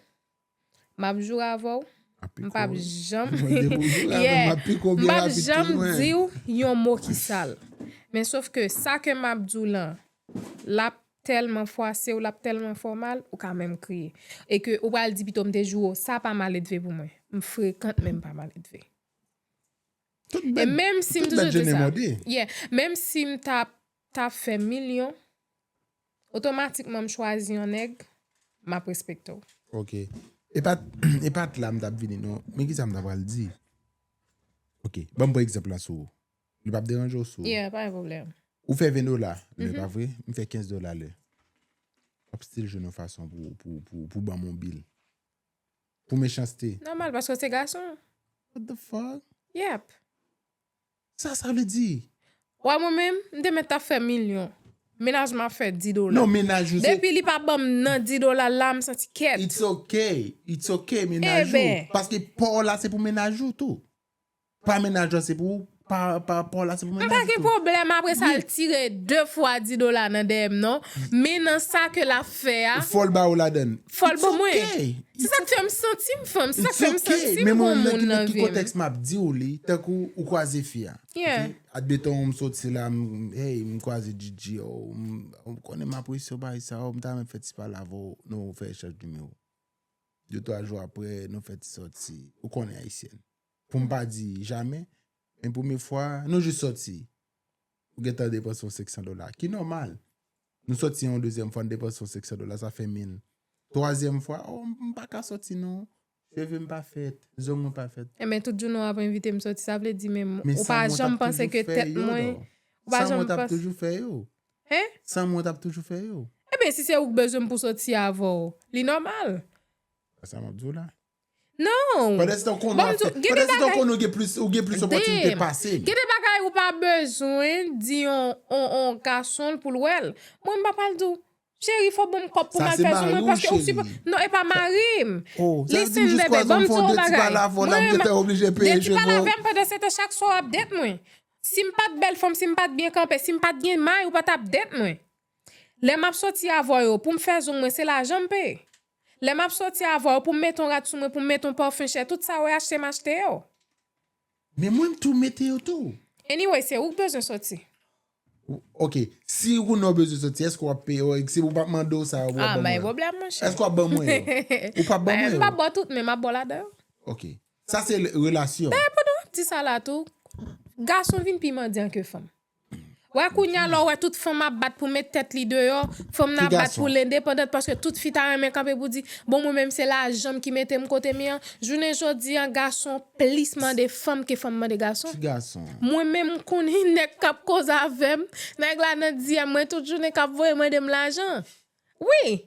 Map joure avèw, m pap janm yeah m pap janm diw yon mo ki sal. Men sof ke sa ke map diw lan, lap tèlman fwasew, lap tèlman fè w mal, ou ka menm kriye. E ke ou pral di pito m te joure w, sa pa maledve pou mwen. M frekant men m pa maledve. Tout bèt jenè mòde. Yeah, menm sim tap tap fè milyon otomatikman m chwazi yon nèg map respekte w. Ok e pat la m tap vini non men kisa m ta pral di ok banm pran egzanp la sou ou li pap deranje w si w Yeah pa gen pwoblèm. Ou fè 20 dola lè pa vre m fè 15 dola lè wap stil jwenn yon fason pou banm yon bil pou mechanste. Nòmal paske w se gason. What the fuck? Yep. Sa sa vle di? Wè mwen menm, m te mèt ta fè milyon. Menaj m ap fè di dola. Non menaj ou se. Depi li pa banm nan di dola l la, m santi kèt. It's ok, it's ok menaj ou. Eben. Paske pa w la se pou menaj ou tou. Pa menaj lan se pou ou, pa pa w la se pou menaj ou tou. M pa gen pwoblèm apresa l tire 2 fwa di dola nan dèyè m non. Men nan sa ke l ap. fè a. Ou fòl ba ou ladann. Fòl ba mwen. It's okay. Se sa k fè m santi m fanm. Se sa k fè m santi m gon moun nan vi m. It's okay. Men mwen nan ki nan ki kontèks m ap di w li, tankou ou kwaze fi a. Yeah. Admeton m soti la, m, hey, m kwaze Djidji, oh, m, ou konnen m apresye w bagay sa, oh, m ta renmen fè ti pale avè w, nou fè echanj nimewo. De twa jou aprè, nou fè ti soti. Ou konnen Ayisyèn. Pou m pa di jamè, men premye fwa, nou jis soti. Ou gen tan depanse yon 500 dola, ki nòmal. Nou sòti yon dezyèm fwa n depanse yon 500 dola sa fè 1000. Twazyèm fwa oh m pa ka sòti non cheve m pa fèt, zong mwen pa fèt. Enben tout jounen w ap envite m sòti sa vle di menm ou pa janm panse ke tèt mwen ou pa janm panse. Sa mwen t ap toujou fè yo. Hein? Sa mwen t ap toujou fè yo. Enben si se ou k bezwen m pou sòti avè w li nòmal. Sa m ap di w la. Non! Pandan se tan ou konnen wap fè, pandan se tan ou konnen ou gen plis opòtinite pase m. Gen de bagay ou pa bezwen di yon gason pou l wè l. Mwen m pa pral di w, cheri fò w ban m kòb pou m al fè zin mwen paske ou sipoze. Non e pa mari m. Listen bebe, ban m di w yon bagay. Mwen, de ti pale avè m pandan se tan chak swa w ap date mwen. Si m pat bèl fanm, si m pat byen kanpe, si m pat gen may ou pa tap date mwen. Lè map soti avw yo poum fè zong mwen se lajan m peye Lè map soti avw yo poum met on rad sou mwen poum met on parfum chè tout sa we achte m achte yo. Men mwen m tou mete yo tou. Anyway se ou k bezwen soti. Ok si ou konnen ou bezwen soti eske wap peye yo eske ou pap mande w sa yo pou wap ban mwen yo eske wap ban mwen yo ou pap ban mwen yo. M pap baw tout men map baw ladan yo. Ok sa se relasyon. Dayè pandan wap di sa la tou gason vin pi mandyan ke fanm. Wè kounya lè w wè tout fanm ap bat pou met tèt li deyò, fanm nan ap bat pou l endepandant paske tout fi ta renmen kanpe pou di, bon mwen menm se lajan m ki mete m kote m ye an. Jounen jodi an gason plis mande fanm ke fanm mande gason. Mwen menm m konnen nèg k ap koze avè m, nèg la nan diyèm mwen tout jounen k ap voye mande m lajan. Wi!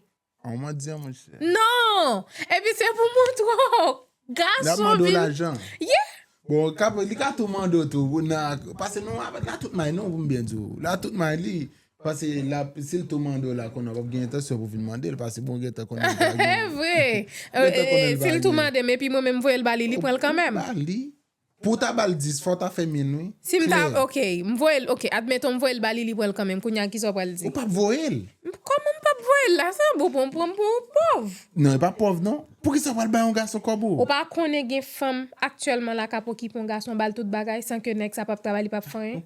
An w mandi an monchè. Non! Epi se pou mwen twòp. Gason vin. Lap mande w lajan. Yeah! Bon, kap, li ka tou mande w tou pou nan, pase nou avè la tout may non pou m byen di w. La tout may li. Pase lap, si l tou mande w la konnen w pap gen entansyon pou vin mande l pase bon gentan konnen l pa gen. Evre! Gentan konnen l pa gen. Si l tou mande m epi mwen menm m voye l ba li, li pran l kanmenm. Ou ba li. Pou w ta ba l 10 fò w ta fè min wi. Si m ta, ok, m voye l, ok, admeton m voye l ba li li pran l kanmenm, kounya kisa w pral di? Ou pap voye l. Kòman m pap voye l la? Sa an bon pou w pran m pou yon pòv? Non e pa pòv non. Poukisa w pral bay yon gason kòb ou? Ou pa konnen gen fanm aktyèlman la k ap okipe yon gason ba l tout bagay san ke nèg sa pap travay li pap fè anyen?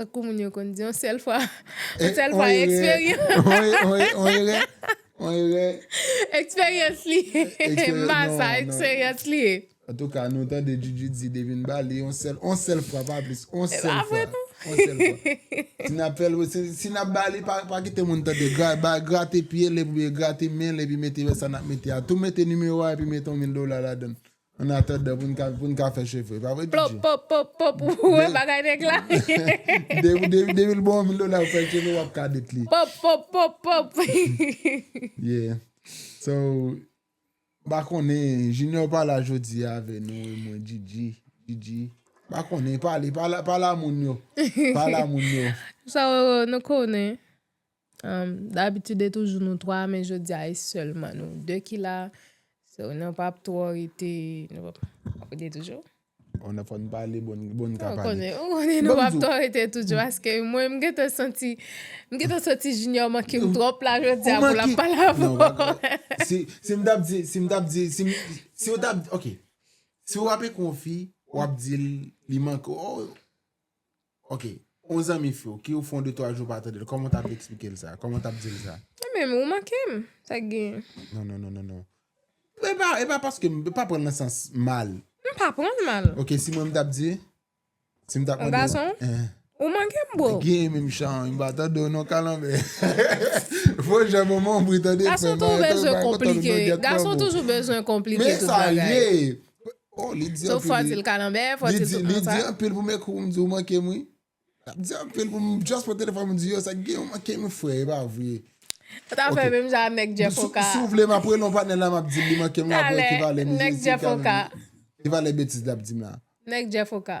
Tankou moun yo konn di, yon sèl fwa, yon sèl fwa eksperyans. On erè. Eksperyans li. Mba sa, eksperyans li. An tou ka, nou tande Djidji di depi n ba li, yon sèl, yon sèl fwa pa plis, yon sèl fwa. Yon sèl fwa. Si n ap fè l, si n ap ba li, pa kite moun tande. Grate pye l, epi grate men l, epi mete sa n ap mete a. Tou mete nimewo a epi mete yon mil dola ladan l. An atandan pou n ka pou n ka fè cheve pa vre DJ? Plop pop pop pop ou wè bagay nèg la Depi depi l ba w yon mil dola pou w fè cheve w ap kadet li Pop pop pop pop Yeah So m pa konnen Junior pa la jodi a avè nou e mwen DJ DJ m pa konnen pale pale a moun yo pale a moun yo Sa w wè nou konnen. Dabitid e toujou nou 3 men jodi a e sèlman nou 2 ki la. So nou pap twò rete nou pap twò rete toujou. On a fò n pale bon n ka pale. Ou konnen nou pap twò rete toujou paske mwen m gentan santi m gentan santi Junior manke m twòp la jodi a pou l ap pale avè w. Si m tap di si m tap di si m si w tap ok si w ap ekri yon fi w ap di l li manke w. Ok on zanmi few ki ou fon de twa jou ou pa tandel koman ou tap esplikel sa koman ou tap dil sa. Mwen menm ou mankem sak gen. Non non non non epa epa paske m pa pranl nan sans mal. M pa pranl mal. Ok si mwen m tap di si m tap mande. On gason ou mankem bro. Gen menm chan an m pa tandew non kalanbè fo jan manman w bri tande frèm. Gason toujou bezwen konplike tout bagay. Men sa ye. Oh li di anpil wi. So fò dil kalanbè, fò dil tout moun sa. Li di anpil pou m ekri pou m di ou manke m wi. Lap di anpil pou m just pran telefòn m di yo sa k gen ou manke m wi frè e pa vre. Ou ta fè menm jan a nèg Jeff Oka. Si w vle map rele yon patnè la map dil li manke m la pou ekivalè mizè si w ka menm. Ekivalè betiz lap di m la. Nèg Jeff Oka.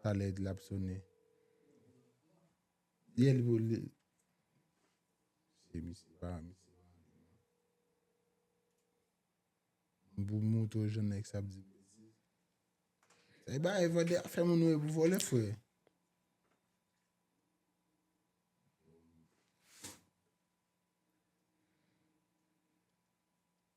Talè l ap sonnen. Yè l pou li. Se misye pa misye. Pou mouto jan nèg sa ap di. E ba e vòlè a fè moun wè pou vòlè frè.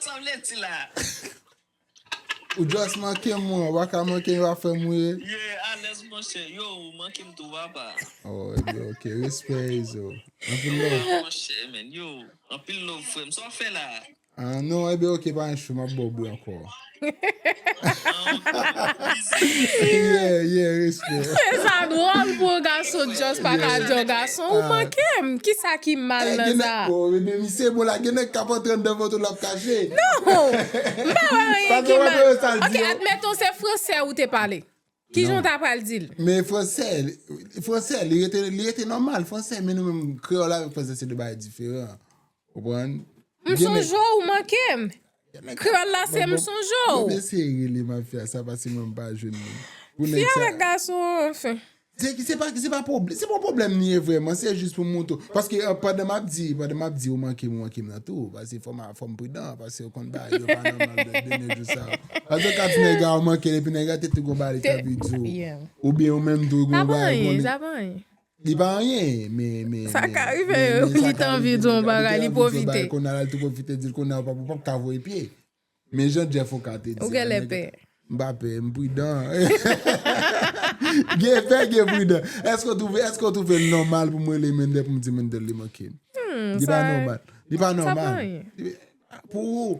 Sa vle di la. Ou just mankem mwen ou paka mankem yo ap fèm ri. Yeah alèz monchè. Yo ou mankem tou apa. Oh yo ok respè izo. Anpil love. Yo monchè men yo. Anpil love frèm sa wap fè la. Ah non ebyen ok pa gen chou map baw bri ankò. Sa dwòl pou yon gason just pa ka di yon gason ou manke m kisa ki mal nan sa. Non, m pa wè anyen ki mal. Ok admettons se fransè ou te pale. Kijan w ta pral di l? Men fransè, fransè li rete li rete nòmal fransè men nou menm kreyòl avèk fransè se de bagay diferan. Ou konprann? M sonje w ou manke m. Kreyòl la se m sonje w. Mwen eseye rele mafya sa pase mwen m pa jwenn li. Pou nèg sa. Fi avèk gason anfen. Se ki se pa ki se pa pwoblèm, se pa pwoblèm li ye vrèman, se jis pou m montre w. Paske pandan m ap di, pandan m ap di ou manke m ou manke m nan tou, pase fò m Fòm pridan paske yo konn bay yo pa nòmal de dènye jou sa yo. Paske kat nèga ou mankel epi nèga te tou gon bagay li ta vle diw ou byen ou menm tou gon bagay ou konnen. Sa pa anyen, sa pa anyen. Li pa anyen men men men. Sa ka rive li ta anvi diw yon bagay li pwofite. Kounya lal tou pwofite dil kounya ou pap ka voye pye. Men jan Jeff Oka te di. Ou genlè pè. M pa pè, m pridan. Gen pè, gen pridan. Èske w twouve, èske w twouve l nòmal pou m rele Mendel pou m di Mendel li manke m? Li pa nòmal. Li pa nòmal. Sa pa anyen. Pou ou.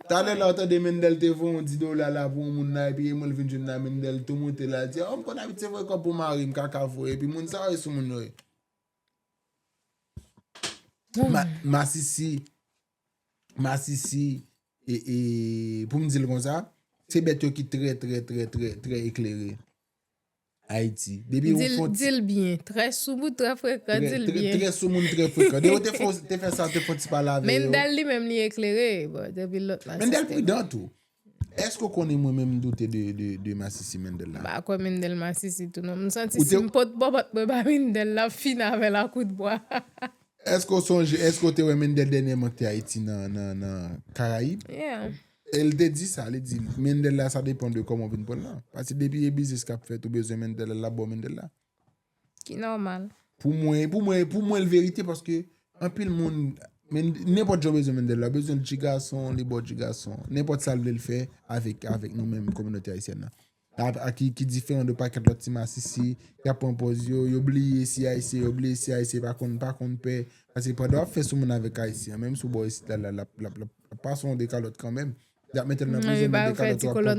Talè la ou tande Mendel te voye yon 10 dola la pou yon moun la epi e mwen l vin jwenn la Mendel tou monte la di, oh m konn abitye voye kòb pou mari m kaka voye epi moun sa yo e soumoun yo ye. Masisi. masisi e e pou m di l konsa se bèt yo ki trè trè trè trè trè eklere ayiti depi ou fon ti di l byen trè soumoun trè frekan di l byen trè soumoun trè frekan depi ou te fon ti te fè sa te fon ti pale avè yo Mendel li menm li eklere bon depi l lòt la se mendel pridan tou Eske ou konnen mwen menm m doute de masisi mendel la. M pa kwè mendel masisi tou non. M santi si m pot bòbòt mwen ba mendel l ap fini avè l a kout bwa. Eske ou sonje eske ou te wè mendel dènyèman k te ayiti nan karayib. E l te di sa li di mendel la sa depan de kòman ou vin pran l lan. Pase depi e biznis k ap fèt ou bezwen mendel la l ap ba w mendel la. Ki nòmal. Pou mwen, pou mwen, pou mwen l verite paske anpil moun men nenpòt jan w bezwen Mendel la, w bezwen l ti gason, li ba w ti gason. Nenpòt sa l vle l fè avèk avèk nou menm kominote ayisyèn nan. A ki ki diferan de pakèt lòt ti masisi ki ap pran pòz yo, yo bliye si ayisyen, yo bliye si ayisyen pa konn pa konn pè. Paske pandan w ap fè sou moun avèk ayisyen an, menm si w ba w isit la la l ap l ap l ap pase w yon dekalòt kanmenm. Y ap mete l nan prizon men dekalòt w ap pran.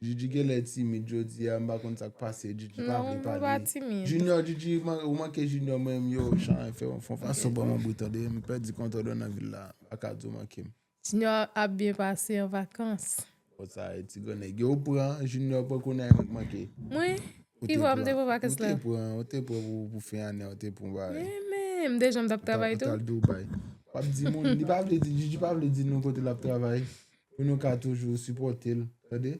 Djidji genlè timid jodia m pa konn sak pase djidji pa vle pale junior djidji ou manke junior mwen menm yo chan fè yon fon fason pran manbri tande m pèdi kontwòl mwen nan vil la m paka di w manke m. Junior ap byen pase an vakans. Bon sa e ti granèg yo ou pran junior pran kounye a e mwen k manke. Mwen? Ki vwa m te pran vakans la? Ou te pran ou te pran pou fen ane a ou te pran bagay. Men men m dejan m tap travay tou. Ou tal Dubai. Wap di moun li pa vle di djidji pa vle di nou kote lap travay. pou nou ka toujou sipòte l tande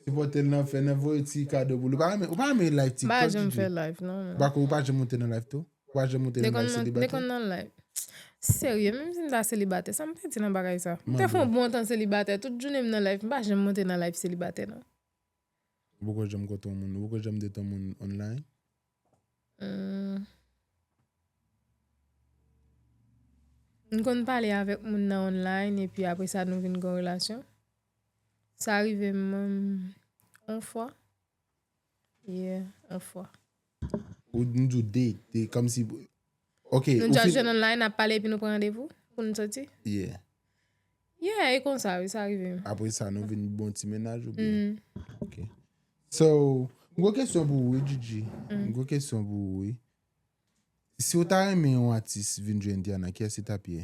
sipòte l nan fè nan voye ti kado pou l ou pa renmen ou pa renmen live ti pa jèm fè live non bako ou pa jèm monte nan live tou ou pa jèm monte nan live seli batè dekonn nan live serye menm si m ta seli batè sa m te di nan bagay sa m te fon bon tan seli batè tout jounen m nan live m pa jèm monte nan live seli batè non. Ou poko janm kontan yon moun. Ou poko janm detan moun online? M konn pale avèk moun nan online epi apre sa nou vin gen yon relasyon. Sa rive m yon fwa. Yeah, yon fwa. Ou nou di w date, date, kòm si, ok. Nou just jwenn online, n ap pale epi nou pran randevou pou nou soti? Yeah. Yeah, e konsa wi, sa rive. Apre sa nou vin bon ti mennaj ou byen? Mm-hmm. Ok. So, m gwo kesyon pou ou wi Djidji. Mm. M gwo kesyon pou ou wi. Si ou ta renmen yon atis vin jwenn Diana, kiyès li t ap ye?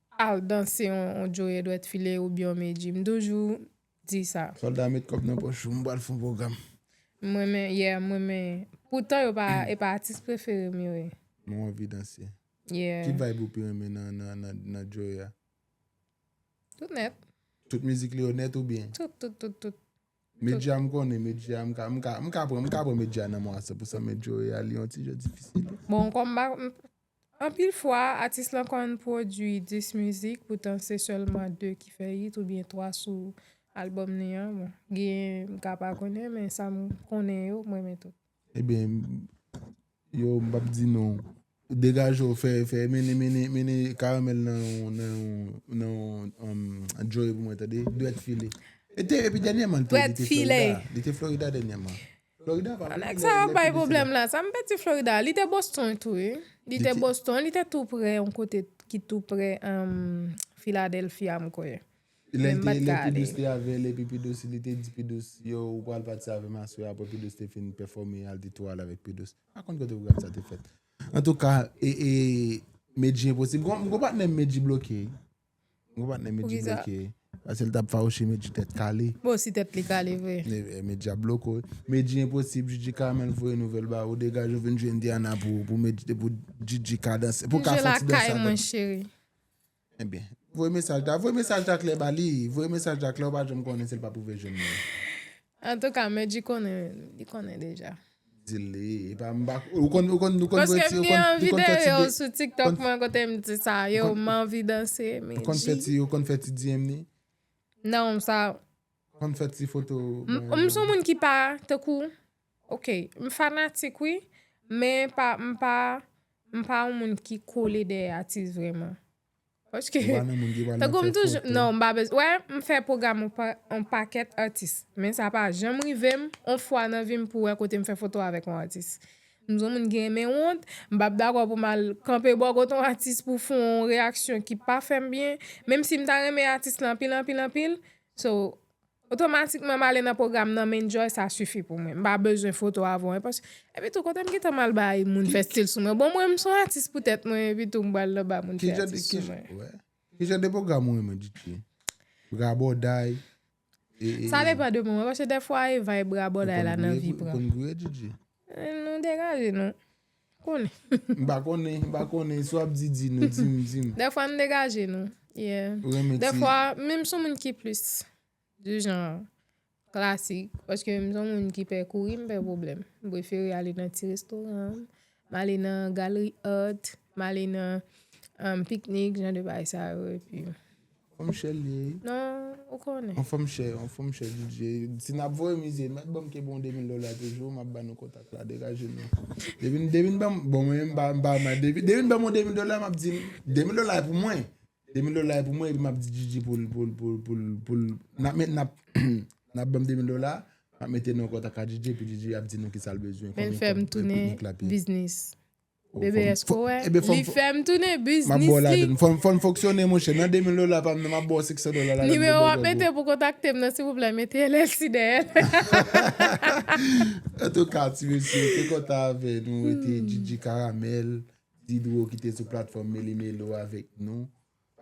Al danse yon joe dwèt file oubyen yon medji. M toujou di sa. Solda met kòb nan pòch ou m pral fon pwogram. M renmen yeah m renmen poutan yo pa e pa atis prefere m yo ye. Mwen anvi danse. Yeah. Ki vibe ou pi renmen nan joe a? Tout nèt. Tout mizik li yo nèt oubyen? Tout tout tout tout. Medji a m konnen medji a m ka m ka pran m ka pran medji a nan mwen a 100% men joe a li yon ti jan difisil. Bon kòm m pa Anpil fwa, atis lan konn pwodui 10 mizik poutan se sèlman 2 ki fè it oubyen 3 sou albòm li an. Bon, genyen m ka pa konnen men sa m konnen yo m renmen tout. Ebyen, yo m pap di non. Degaje w, fè, fè, mennen, mennen, mennen Caramel nan yon, nan yon, nan yon Joe pou mwen tande, Dwèt file. E te, epi dènyèman l te, li te Florida, li te Florida dènyèman. Nèg sa ap bay pwoblèm la. Sa m pè di Florida, li te Boston tou wi. Li te Boston, li te tou prè yon kote ki tou prè Philadelphia m kwè. Lè l te lè Pidous te avè lè epi Pidous li te di Pidous yo ou pral pati avè m aswè apre Pidous te fin pèfòme al te tou al avèk Pidous. M pa konn kote pwogram sa te fèt. Antouka e e Medjy enposib. M gon patnè m Medjy bloke. Gwo patnè Medjy bloke. Pase l tap fawouche Medjy tèt kale. Bon si tèt li kale vre. Medjy ap bloke w. Medjy enposib Jiji Carmel voye nouvèl ba ou degaje w vin jwe Indiana pou pou Medjy pou Jiji ka danse pou ka fè ti danse avèk. Jiji lakay mwen cheri. Ebyen voye mesaj la voye mesaj la klè ba li voye mesaj la klè ou pa janm konnen si l pa pou veye jwenn li. Antouka Medjy konnen li konnen deja. Dil li epa m pa ou konn ou konn ou konn Paske m gen anvi de yo sou tiktok mwen kote m di sa yo m anvi danse Medjy. Ou konn fè ti ou konn fè ti DM ni? Non m sa. Konn fè ti foto. M son moun ki pa tankou ok m fanatik wi men pa m pa m pa yon moun ki kole dèyè atis vreman. Paske, tankou m toujou, non m pa bezwen, wè m fè pwogram on pakèt atis, men sa pa janm rive m on fwa nan vi m pou wè kote m fè foto avèk on atis. M son moun ki renmen wont, m pa p dakò pou m al kanpe bò kot on atis pou fon on reyaksyon ki pa fè m byen, menm si m ta renmen atis lan anpil anpil anpil. So, Otomatikman m ale nan pwogram nan m enjoy sa sifi pou mwen. M pa bezwen foto avan w enpòs Epi tou kote m gentan m al bay moun fè stil sou mwen? Bon mwen m son atis pou tèt mwen epi tou m pral nan ba moun fè atis sou mwen. Ki jan de pwogram ou renmen Dutchie? Rabòday? Sa depan de moman paske dèfwa e vibe rabòday la nan vi pran. Ou konn gouye Dutchie? Nou degaje nou. Konnen. M pa konnen, m pa konnen, si w ap di, di nou, di m, di m. Dèfwa m degaje nou, yeah. Ou renmen ti. Dèfwa, men m son moun ki plis di jan klasik, paske m son moun ki pè kouri, m pè pwoblèm. M prefere ale nan ti restoran, m ale nan galri art, m ale nan piknik, jan de bagay sa yo epi. Anfòm chè li ye. Non, ou konnen. Anfòm chè, anfòm chè DJ. Si nap voye mize, mèt banm ke bon 2000 dola toujou, map ba nou kontak la, degaje nou. Devin, devin banm, bon mwen menm pa mpa ma devin, devin banm on 2000 dola map di 2000 dola e pou mwen. 2000 dola e pou mwen epi map di DJ pou pou pou pou pou nap met nap nap banm 2000 dola, map mete nou an kontak a DJ epi DJ ap di nou kisal bezwen. Men fèm tounen biznis. Bebe eske w wè li fè m tounen biznis li. Fò n fonksyone monchè. Nan 2000 dola pa m nan m ap ba w 500 dola la. Nimewo w ap mete pou kontakte m nan silvouplè mete LLC dèyè l. Antouka ti mesye te kontan avè nou e te Djidji Karamèl, Didro ki te sou platfòm Meli Melo avèk nou.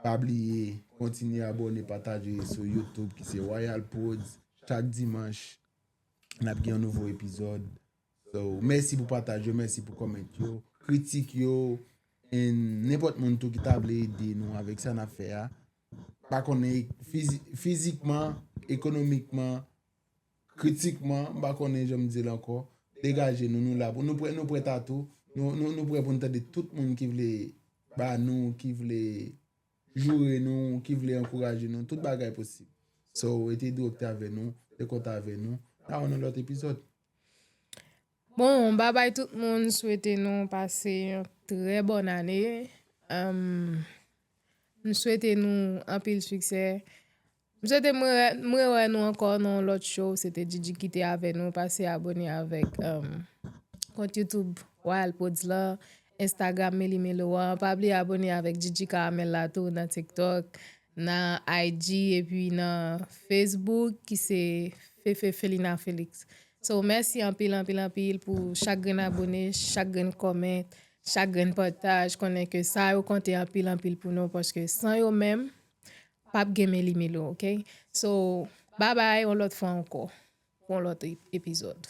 Pa bliye kontinye abòne pataje sou YouTube ki se Royal Prodz. Chak dimanch n ap gen yon nouvo epizòd. So mèsi pou pataj yo, mèsi pou comment yo, kritik yo and nenpòt moun tou ki ta vle ede nou avèk sa nap fè a pa konnen fizikman, ekonomikman, kritikman, m pa konnen janm di l ankò, degaje nou nou la pou nou nou prèt a tou, nou prèt pou nou tande tout moun ki vle ba nou, ki vle joure nou, ki vle ankouraje nou, tout bagay posib. So rete direkte avè nou, rete kontan avè nou, nan yon lòt epizòd. Bon babay tout moun swete nou pase yon trè bòn ane m swete nou anpil siksè m swete m rewè nou ankò nan yon lòt cho se te djidji ki te avè nou pase abòne avèk kont youtoub wayal prodz la enstagram meli melo an pa bliye abòne avèk djidji karamèl la tou nan tiktok. Nan IG epi nan Facebook ki se Fefe Felina Felix. So mèsi anpil anpil anpil pou chak grenn abone, chak grenn comment, chak grenn pataj konnen ke sa yo konte anpil anpil pou nou paske san yo menm pap gen meli milo ok. So babay yon lòt fwa ankò pou yon lòt epizòd.